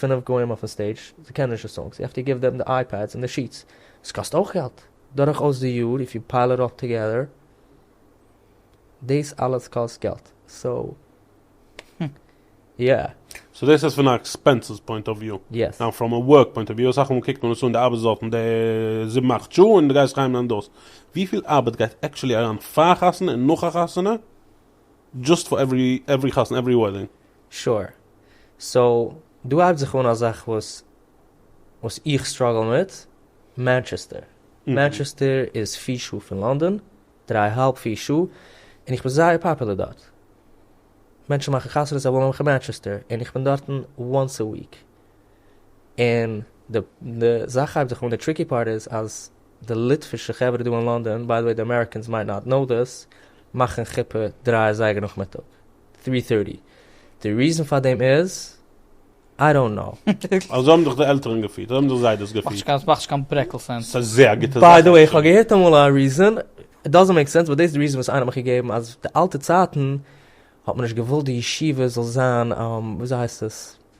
פינף גוים אויפן סטעידזש, זיי קענען נישט די סאנגס, יו העוו טו גיוו דעם די אייפעדס און די שיטס, עס קאסט אויך געלט, דורך אויס די יאר איף יו פייל איט אל טוגעדער, דאס אלעס קאסט געלט, סאו יא. סאו דאס איז פון א עקספענסעס פוינט אוו וויו. יעס. נאו פראם א ווארק פוינט אוו וויו, אסאך מאל קוקט מען עס אן די ארבעטסט דארטן די זיבן אכט שעה און די גייסט אריין און דאס, וויפיל ארבעט גייט עקטשולי אריין פאר א חתונה און נאך א חתונה, דזשאסט פאר עווערי חתונה עווערי וועדינג. sure סאו דא הייבט זיך אן א זאך וואס וואס איך סטראגל מיט, מאנטשעסטער, מאנטשעסטער איז פֿיר שעה פון לאנדאן, דריי א האלב פיר שעה, און איך בין זייער פאפולער דארט, מענטשן מאכן חתונות זיי ווילן מיך אין מאנטשעסטער, און איך בין דארטן once a week, און די זאך הייבט זיך אן, די טריקי פארט איז אז די ליטווישע חברה דא אין לאנדאן, ביי די וועי די אמעריקענס מייט נאט קנאו דעס, מאכן חופה דריי אזייגער נאכמיטאג, טרי טערטי, די ריזען פאר דעם איז, איי דאנט קנאו. אזוי האבן זיך די עלטערן געפירט, אזוי האבן זיך זיידעס געפירט. ס'מאכט נישט קיין ברעקל סענס. ס'איז זייער א גוטע זאך. ביי די וועי כ'האב געהערט אמאל א ריזען, איט דאזענט מעיק סענס, באט דאס איז די ריזען וואס איינער האט מיך געגעבן, אז די אלטע צייטן האט מען נישט געוואלט די ישיבה זאל זיין, וויאזוי הייסט עס?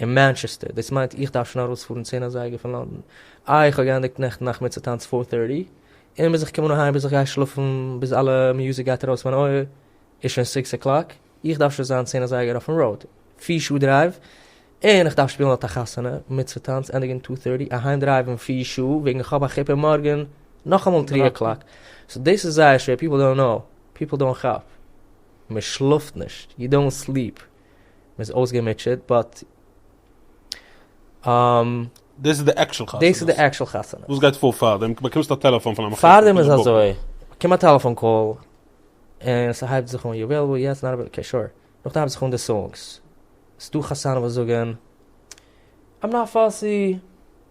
אין מאנטשעסטער, דאס מיינט איך דארף שוין ארויספארן צען אזייגער פון לונדון, איי איך האב געענדיגט נעכטן נאכמיטאג טאנץ פאר טערטי, און ביז איך קום אן אהיים ביז איך גיי שלאפן ביז אלע מיוזיק גייט ארויס מיין אויער איז שוין סיקס אקלאק, איך דארף שוין זיין צען אזייגער אויפן ראוד, פיר שעה דרייוו, און איך דארף שפילן אט א חתונה, מצוה טאנץ, ענדיגן טו טערטי, אהיים דרייוון פיר שעה, וועגן איך האב א חופה מארגן נאכאמאל טרי אקלאק, סאו דאס איז זייער שווער, פיפל דאנט קנאו, פיפל דאנט כאפ, מען שלאפט נישט, יו דאנט סליפ, מען איז אויסגעמוטשעט באט אםם. דאס איז די עקשעל חתונה. דאס איז די עקשעל חתונה. וואס גייט פאר פארדעם? באקומסט א טעלעפאן פון א מחותן? פארדעם איז אזוי, באקום א טעלעפאן קאל, און ס'הייבט זיך אן יו עוועילעבל יעס נאט עוועילעבל אקעי שור, נאכדעם הייבט זיך אן די סאונגס, ס'דא חתנים וואס זאגן, איים נאט פאסי,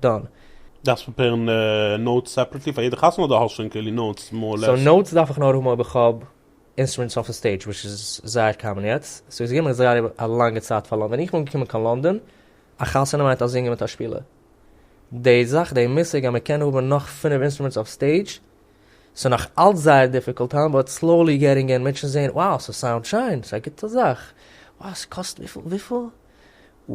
דאן. דארפסט פריפערן נאוטס סעפערעטלי פאר יעדע חתונה אדער האסט שוין כולי נאוטס מאר לעס? סאו נאוטס דארף איך נאר האבן אויב איך האב אינסטרומענטס אויפן סטעידזש וויטש איז זייער קאמאן יעצט, סאו איז גענומען זייער א לאנגע צייט פאר ווען איך בין געקומען קיין לאנדאן, א חתונה מיינט א זינגער מיט א שפילער. די זאך די מושג אז מען קען האבן נאך פינף אינסטרומענטס אויף סטעידזש סאו נאך אלץ זייער דיפיקולט טיים באט סלאולי געטינג אין מענטשן זעהן wow ס'סאונד שיין ס'איז א גוטע זאך wow ס'קאסט וויפיל וויפיל? ooh.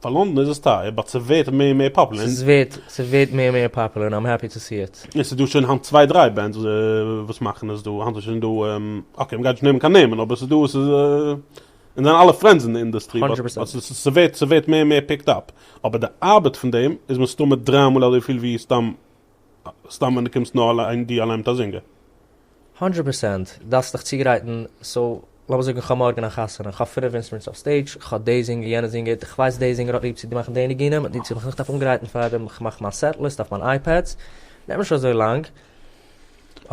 פאר לונדון איז עס טייער באט ס'ווערט מער און מער פאפולער און. ס'ווערט ס'ווערט מער און מער פאפולער און איים העפי טו סי איט. און ס'איז דא שוין היינט צוויי דריי בענדס וואס מאכן עס דא היינט איז שוין דא אקעי מ'גייט נישט נעמען קיין נעמען אבער ס'איז דא ס'איז און זיינע אלע פרענדס אין די אינדוסטרי באט הונדרעט פראצענט. ס'ווערט ס'ווערט מער און מער פיקד אפ אבער די ארבעט פון דעם איז מסתמא דריי מאל אזוי פיל ווי סתם סתם ווען די קומסט נאר אליין די אליין מיט א זינגער. הונדרעט פערסענט, דארפסט דיך צוגרייטן, סאו לאמיר זאגן כ'האב מארגן א חתונה, איך האב פינף אינסטרומענטס אויף סטעידזש, כ'האב די זינגער יענע זינגער, כ'ווייס די זינגער האט ליב צו מאכן די ניגונים, און צו כ'מיך דארף אנגרייטן פאר דעם, כ'מאך מיין סעט ליסט אויף מיין אייפעדס, נעמט נישט אזוי לאנג,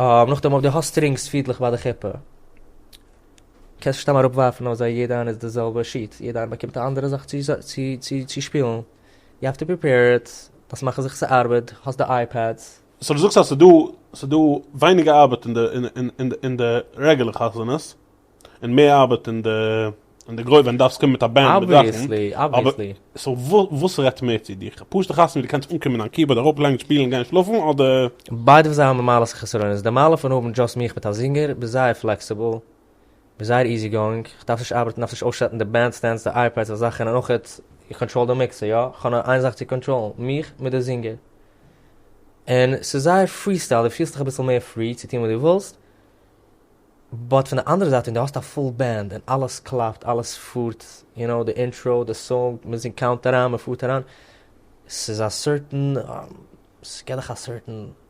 נאכדעם אויב די האסט סטרינגס פידלעך ביי די חופה, קענסטו סתם אראפ ווארפן אזוי יעדע איינע איז די זעלבע שיט, יעדע איינע באקומט א אנדערע זאך צו שפילן. יו האוו טו פריפעיר איט, דארפסט מאכן זיכער ס'ארבעט, האסט די אייפעדס. סאו דו זאגסט אז ס'דא ס'דא ווייניגער ארבעט אין די אין די רעגולער חתונות, און מער ארבעט אין די אין די גרויסע ווען דו דארפסט קומען מיט א בענד מיט זאכן. אבוויעסלי, אבוויעסלי. סאו וואס רעדט מער צו דיר? א פשוטע חתונה ווי דו קענסט אנקומען דיין קיבארד אראפלייגן שפילן און גיין שלאפן, אדער. ביידע פון זיי האבן מעלות און חסרונות, די מעלה פון האבן דזשאסט מיך מיט א זינגער, ביסט זייער פלעקסיבל, בין זייער איזי גאואינג, איך דארף נישט ארבעטן, דארף נישט אויסשעטן די בענד סטענדס, די אייפעדס, אזא זאכן, און אויך איך קאנטראל די מיקסער, יא, איך האב נאר איין זאך צו קאנטראלן, מיך מיט די זינגער. און ס'איז זייער פרי סטייל, דו פילסט דיך אביסל מער פרי צו טון וואס דו ווילסט, באט פון די אנדערע זייט ווען דו האסט א פול בענד און אלעס קלאפט, אלעס פארט, יו נאו, די אינטראו, די סאונג, מען זינגט קאונט אריין, מען פארט אריין, ס'איז א סערטען, ס'געט דיך א סערטען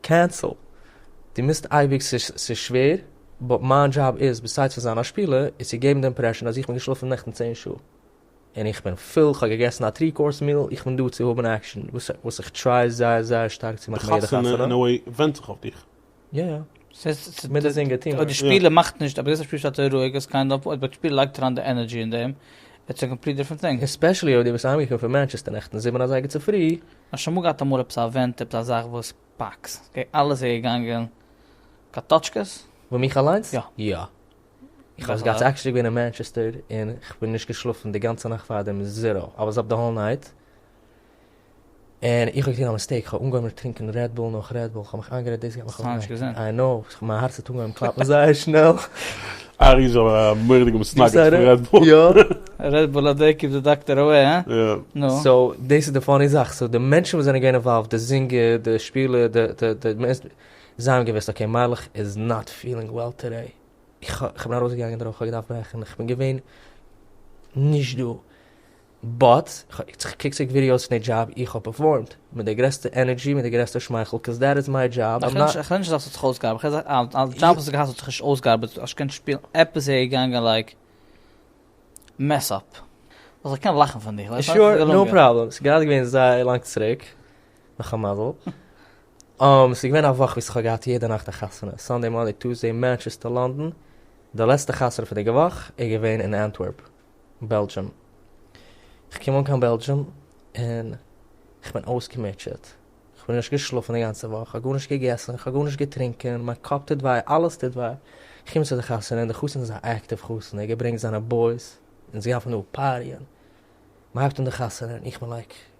קענסל, דו מוזט אייביג, ס'איז שווער, באט מיין דזשאב איז, ביסיידס פון זיין א שפילער, איז צו געבן די אימפרעשאן אז איך בין געשלאפן נעכטן צען שעה, און איך בין פול, איך האב געגעסן א טרי קאורס מיעל, איך בין דא צו האבן עקשאן, וואס איך טריי זייער זייער שטארק צו מאכן ביי יעדע חתונה. די חתונה אין א וועי ווענדט זיך אויף דיך. יא יא. מיט די זינגער טים. אויב די שפילער מאכט נישט, אויב די געסט א שפילער שטייט ער רואיג, איז קיינד אף, אויב די שפילער לייגט אריין די ענערדזשי אין דעם, איטס א קאמפליט דיפרענט טינג. עספעשעלי אויב דו ביסט אהיימגעקומען פון מאנטשעסטער נעכטן זיבן אזייגער צופרי. האסט שוין אמאל געהאט אמאל עפעס א עווענט עפעס א זאך וואס פאקס געג אלעס איז געגאנגען קאטאטשקעס? וואו מיך אליינס? יא. יא. איך האב עס געהאט עקשעלי געווען אין מאנטשעסטער און כ'בין נישט געשלאפן די גאנצע נאכט פארדעם זירא איי וואס אפ די האול נייט און איך האב געטון א מיסטעיק כ'האב אנגעהויבן טרינקען רעד בול נאך רעד בול כ'האב מיך איינגערעדט דאס גייט מיך אויף די נערווען איי נאו מיין הארץ האט אנגעהויבן קלאפן זייער שנעל. א ריזע מוראדיגע מסנגד פון רעד בול. יא. רעד בול האט דער קיפ די דאקטער אוועי הא? יא. נו. סאו דאס איז די פאני זאך, סאו די מענטשן וואס זענען געווען אינוואלווד, די זינגער, די שפילער, די די די מענס, זיי האבן געוואוסט אקעי מיילעך איז נאט פילינג וועל טודעי, איך איך בין ארויסגעגאנגען דערויף, איך האב געדארפט ברעכן, איך בין געווען נישט דא. באט, כ'קוק צוריק ווידיאוס פון די דזשאב איך האב פערפארמד, מיט די גרעסטע ענערדזשי מיט די גרעסטע שמייכל קאז דעט איז מיי דזשאב, איים נאט. כ'רעד נישט אז ס'האט זיך אויסגעארבעט, כ'רעד אז א דזשאב וואס האט געהאט האט זיך נישט אויסגעארבעט, האסט געקענט שפילן, עפעס איז געגאנגען לייק מעס אפ, אז כ'קען לאכן פון דיר, ס'איז געלונגען. שור, נאו פראבלעם, ס'איז גראדע געווען זייער לאנג צוריק, נאך א מזל, ס'איז געווען א וואך וואס כ'האב געהאט יעדע נאכט א חתונה, סאנדעי מאנדעי טוסדעי מאנטשעסטער לאנדאן, די לעצטע חתונה פון די וואך איז געווען אין אנטווערפ. בעלדזשום. כ'קום אן קיין בעלדזשום און כ'בין אויסגעמוטשעט. כ'בין נישט געשלאפן די גאנצע וואך, כ'האב גארנישט געגעסן, כ'האב גארנישט געטרונקען, מיין קאפ טוט וויי, אלעס טוט וויי. כ'קום צו די חתונה און די חתן איז א עקטיוו חתן, ער געברענגט זיינע בויס, אונז גייען פון דא פאריען. מ'הייבט אן די חתונה און איך בין לייק.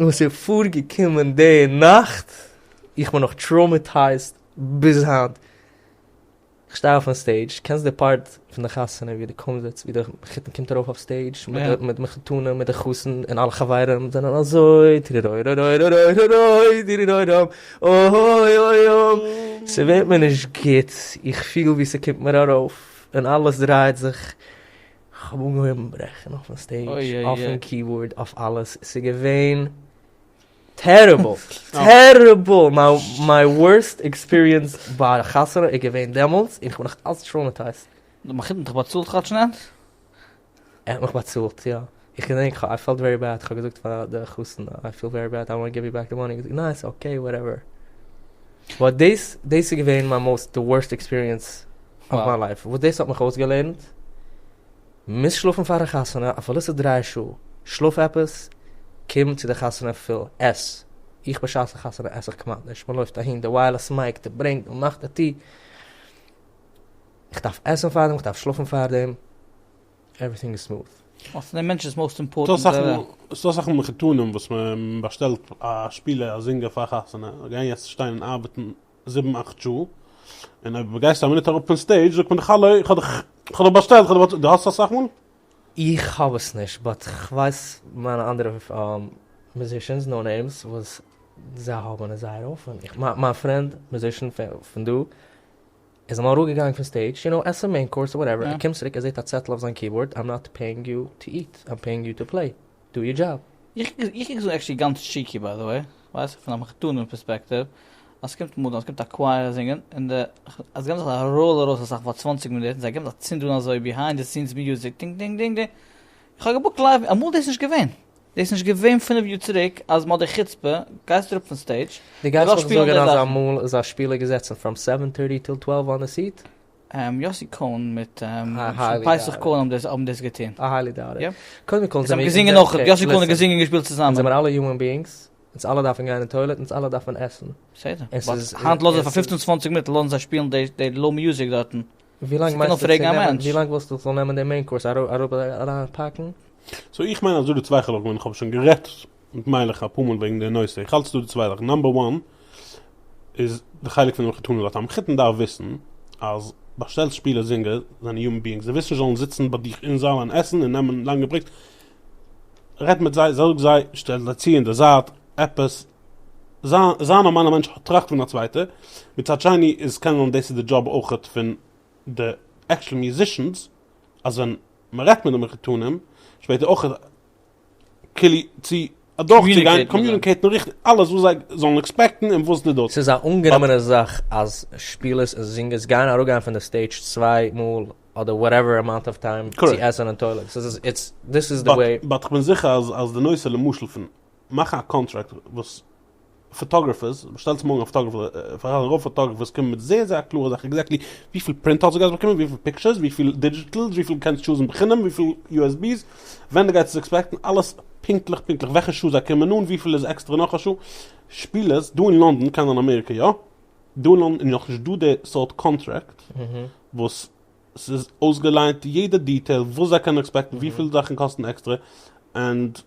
וואס איז פארגעקומען די נאכט, איך בין נאך טראומעטייזד ביז היינט, איך שטיי אויפן סטעידזש, קענסט די פארט פון די חתונה ווי די קומזיץ ווי די חתן קומט ארויף אויף סטעידזש מיט די מחותנים מיט די חתן און אלע חברים זענען אזוי טירירוירוירוירוירוירוירוי טירירוירום אויויויום, ס'ווערט מיר נישט גוט, איך פיל ווי ס'קומט מיר ארויף און אלעס דרייט זיך. כ'האב אנגעהויבן ברעכן אויפן סטעידזש, אויפן קיבארד, אויף אלעס, ס'איז געווען טעריבל! טעריבל! מיי ווארסט עקספיריענס ביי א חתונה איז געווען דעמאלטס, און כ'בין נאך אלץ טראומעטייזט. די מחותן האט דיך באצאלט כאטש נעט? ער האט מיך באצאלט, יא. איך געדענק כ'האב, איי פעלט ווערי בעד, כ'האב געזאגט פאר די חתן, איי פיל ווערי בעד, איי וואנט גיוו יו בעק די מאני, ער האט געזאגט ניין, ס'איז אקעי, וואטעווער. באט דאס, דאס איז געווען מיין מאוסט, די ווארסט עקספיריענס אויף מיין לייף, וואס דאס האט מיך אויסגעלערנט, מוז שלאפן פארן חתונה, אפילו ס'איז דריי שעה, שלאף עפעס, קום צו די חתונה פול, עס, איך בשעת א חתונה עס איך כמעט נישט, מען לויפט אהין, די ווייערלעס מייק, די ברענג, די מאך, די טו, איך דארף עסן פארדעם, איך דארף שלאפן פארדעם, עווריטינג איז סמוט. אצינד די מענטש איז מאוסט אימפארטענט. ס'דא אסאך מחותנים וואס מען באשטעלט א שפילער א זינגער פאר חתונה, זיי גייען יעצט שטיין און ארבעטן זיבן אכט שעה, און אויב גייסטו א מינוט אראפ פון סטעידזש זאגט מען דיך האלא איך האב דיך איך האב דיך באשטעלט איך האב דיך באשטעלט, דו האסט עס אסאך מאל? איך האב עס נישט באט כ'ווייס מיינע אנדערע מיוזישענס נאו נעימס וואס זיי האבן עס זייער אפען, איך מיין מיין פרענד מיוזישען פון דא איז אמאל אראפ געגאנגען פון סטעידזש יו נאו עסן מעין קאורס וואטעווער ער קומט צוריק ער זעהט א צעטל אויף זיין קיבאורד איים נאט פעיאינג יו טו איט איים פעיאינג יו טו פלעי דו יור דזשאב. איך קוק זיך עקשעלי גאנץ טשיקי ביי די וועי, ווייסט פון א מחותנים פערספעקטיוו, אז ס'קומט מאדנע אז ס'קומט א קווייער זינגען, און די, אז געבן זיך א ראול ארויס אסאך פאר צוואנציג מינוט, און זיי געבן א צינד אן אזוי ביהיינד די סינס מיוזיק דינג דינג דינג דינג, איך האב געבוקט לייוו, אמאל דאס נישט געווען, דאס נישט געווען פינף יאר צוריק, אז מ'האט די חוצפה, גייסט אראפ פון סטעידזש, די גייסט זיך זארגען אז אמאל איז א שפילער געזעצן פראם סעווען טערטי טיל טוועלוו אן די סיעט? יאסי כהן מיט פסח כהן האבן דאס געטון. א היילי דאוט איט. קודם כל זעמיר אונז זעמיר אלע הומען ביאינגס, אונז אלע דארפן גיין אין טוילעט, אונז אלע דארפן עסן. בסדר. היינט לאזן זיי פאר פופצן צוואנציג מינוט לאזן זיי שפילן די לא מיוזיק דארטן. ווילאנג מיינסטו צו נעמען, ווילאנג ווילסטו ס'זאל נעמען די מעין קאורס אראפ אריינפאקן? סאו איך מיין אז דא די צוויי חלקים ווען איך האב שוין גערעדט און כ'מיין איך אפאר מאל וועגן די נושא, איך האלט ס'דא די צוויי זאכן, נאמבער וואן איז די חלק פון די מחותנים און די מחותן דארף וויסן אז באשטעלסט שפילער זינגער זענען יומען ביאינגס די ווילסט נישט זאלן זיצן ביי דיך אין זאל און עסן און נעמען לאנגע ברעיקס רעד מיט זיי זאג זיי שטעל זיי צו אין די זייט עפעס זיי א נארמאלע מענטש טראכט פון א צווייטע מצד שני איז קען זיין דאס איז די דזשאב אויכעט פון די עקטשעל מיוזישענס אז ווען מ'רעדט מיט די מחותנים שפעטער אויכעט כלי צו אדורכצוגיין, קאמיוניקעיטן ריכטיג, אלעס וואס זיי זאלן עקספעקטן און וואס ניט. ס'איז א אנגענומענע זאך אז שפילערס און זינגערס גייען אראפגיין פון די סטעידזש צוויי מאל אדער וואטעווער אמאונט אוו טיים צו עסן און טוילעט, ס'איז איז איטס דיס איז די וועי. באט כ'בין זיכער אז אז די נושא למשל פון מאכן א קאנטראקט וואס פאטאגרעפערס, שטעלט זיך מארגן א פאטאגרעפער, פארהאן א רוב פאטאגרעפערס קומען מיט זייער זייער קלארע זאכן עקזעקטלי וויפיל פרינט האלץ דו גייסט באקומען, וויפיל פיקטשערס, וויפיל דידזשיטעלס, וויפיל קענסט טשוזן בחינם, וויפיל יו עס בי'ס, ווען דו גייסט עס עקספעקטן, אלעס פונקטליך פונקטליך, וועלכע שעה זיי קומען אן, וויפיל איז עקסטערע נאך א שעה, שפילערס, דא אין לונדון, קיינער אין אמעריקע יא, דא אין לונדון איז נאכנישט דא די סארט קאנטרעקט וואס ס'איז אויסגעליינט יעדע דיטעיל וואס זיי קענען עקספעקטן, וויפיל זאכן קאסטן עקסטערע, ענד.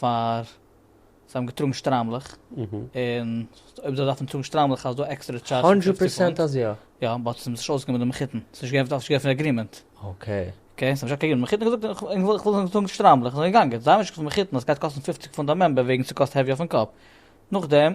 פאר זיי האבן געטראגן שטריימלעך, און אויב זיי דארפן טראגן שטריימלעך אז דא עקסטערע טשארדזש פון פופציג פונט. האנדרעט פערסענט אז יא. יא, באט ס'איז נישט אויסגעגאנגען מיט די מחותן, ס'איז נישט געווען אפגעשריבענע אגרימענט. אקעי. אקעי, ס'האט נישט אפגעגעבן די מחותן, געזאגט איך וויל איך וויל טראגן שטריימלעך, זיי זענען געגאנגען, זיי האבן נישט געזאגט פאר מחותן אז ס'גייט קאסטן פופציג פונט א מעמבער וועגן ס'קאסט העוויער פון קאפ. נאכדעם.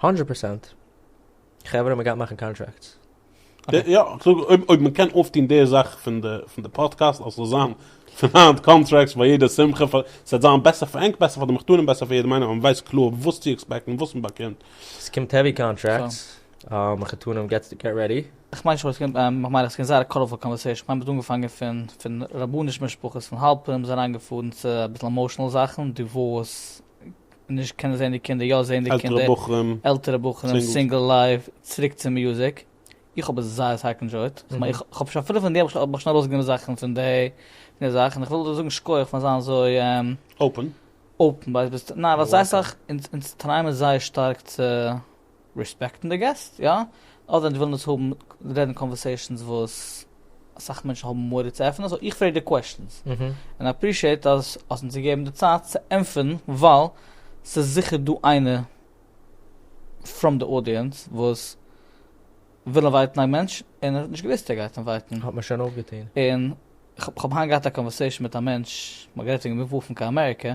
הונדרעט פראצענט. חברה מען גייט מאכן קאנטראקטס. יא, איך זאג אויב אויב מען קען אויפטון די זאך פון די פון די פאדקעסט אז ס'זאל זיין פון היינט קאנטראקטס ביי יעדע שמחה פאר ס'וועט זיין בעסער פאר ענק בעסער פאר די מחותנים בעסער פאר יעדעם איינעם אז מען ווייסט קלאר וואס צו עקספעקטן וואס מען באקומט. ס'קומט העווי קאנטראקטס, מחותנים געט געט רעדי. איך מיין נישט וואס ס'קומט, איך מיין אז ס'קומט זייער א קאלערפול קאנווערסעישאן, כ'מיין מ'האט אנגעפאנגען פון פון רבני'ש משפחות פון האלפים, ס'איז אריינגעפארן צו אביסל עמאושענעל זאכן, דיווארס, נישט קענען זען די קינדער, יא זען די קינדער, עלטערע בחורים, עלטערע בחורים, סינגל לייף, צוריק צום מיוזיק, איך האב עס זייער סטארק ענדשויט, איך האב שוין אפילו פון דעם האב איך שוין ארויסגענומען זאכן פון די זאך, און איך וויל דיר זאגן שכוח פאר זיין אזוי אפען, ווייל זיי זענען זייער שטארק צו. רעספעקטן די געסט, יא? אדער ווען זיי ווילן עס האבן, רעדן קאנווערסעישאנס וואס אסאך מענטשן האבן מורא צו עפענען, סאו איך פרעג די קוועסטשענס. און איי עפרישיעט אז האסט אונז געגעבן די צייט צו ענטפערן, ווייל ס'איז זיכער דא איינער פראם די אודיענץ וואס וויל אינווייטן א מענטש און ער האט נישט געוואוסט ער גייט אינווייטן. האט מען שוין אויפגעטון. און כ'האב היינט געהאט א קאנווערסעישאן מיט א מענטש, מ'האט גערעדט וועגן מופן קיין אמעריקע,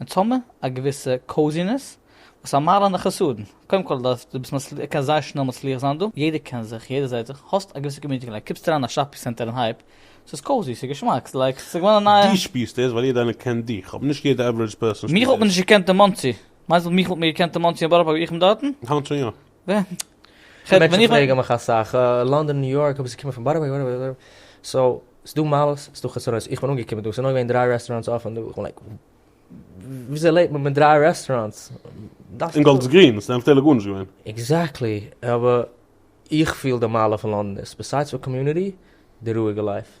אונז האמער א געוויסע קאוזינעס וואס פארמאלען די חסרון, קודם כל אז דו ביסט מצליח, קענסט זייער שנעל מצליח זיין דא, יעדער קען זיך, יעדער זעהט זיך, האסט א געוויסע קאמיוניטי געלייגט, קומסט אריין אין א שאפינג סענטער און הייב, ס'איז קאוזי, ס'איז געשמאק, ס'איז לייק ס'איז געווארן א נייע. דו שפירסט עס ווייל יעדער איינער קען דיך, אבער נישט יעדער עווערעדזש פערסאן שפירט עס. מיך האט מען נישט געקענט אין מאנסי. מיינסט מיך האט מיר געקענט אין מאנסי אין בארא פארק ווי איך בין דארטן? היינט שוין יא. מענטשן פרעגן מיך אסאך, לאנדאן ניו יארק, אבער זיי קומען פון בארא פארק, בארא פארק, סאו ס'דא מעלות ס'דא חסרונות, איך בין אנגעקומען דא, ס'איז נאר געווען דרײַ רעסטוראנטס אפען דא, איך בין לייק וויאזוי לעבט מען מיט דרײַ רעסטוראנטס? און גאלד איז גרין, ס'איז ענקערליך גארנישט געווען. עקזעקטלי, אבער איך פיל די מעלה פון לאנדאן איז, ביסיידס פאר קאמיוניטי, די רואיגע לייף.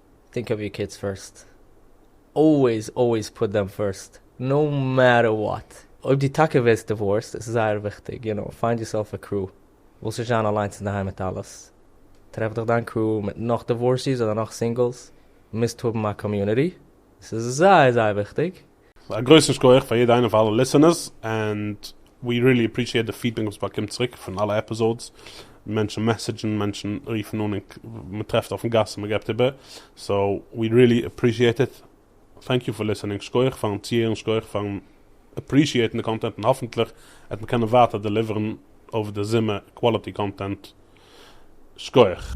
טינק אויף יור קידס פירסט, אלוועיס אלוועיס פוט דעם פירסט, נאו מעטער וואט. אויב דו טאקע ווערסט דיווארסט איז עס זייער וויכטיג, יו נאו, פיינד יורסעלף א קרו, ווילסט נישט זיין אליינס אינדערהיים מיט אלעס, טרעף דיך דיין קרו מיט נאך דיווארסיס אדער נאך סינגלס, מוזט האבן א קאמיוניטי, עס איז זייער זייער וויכטיג. א גרויסן שכוח פאר יעדע איינע פאר אלע ליסענערס, ענד ווי ריעלי עפרישיעט די פידבעק וואס באקומט צוריק פון אלע עפיזאודס, מענטשן מעסעדזשן, מענטשן רופן אן, און מען טרעפט אויפן גאס און מען געבט איבער, סאו ווי ריעלי עפרישיעט איט, טענק יו פאר ליסענינג, שכוח פארן צוהערן, שכוח פארן עפרישיעטן די קאנטענט, און האפענטליך וועט מען קענען ווייטער דעליווערן אויף די זומער קוואליטי קאנטענט, שכוח.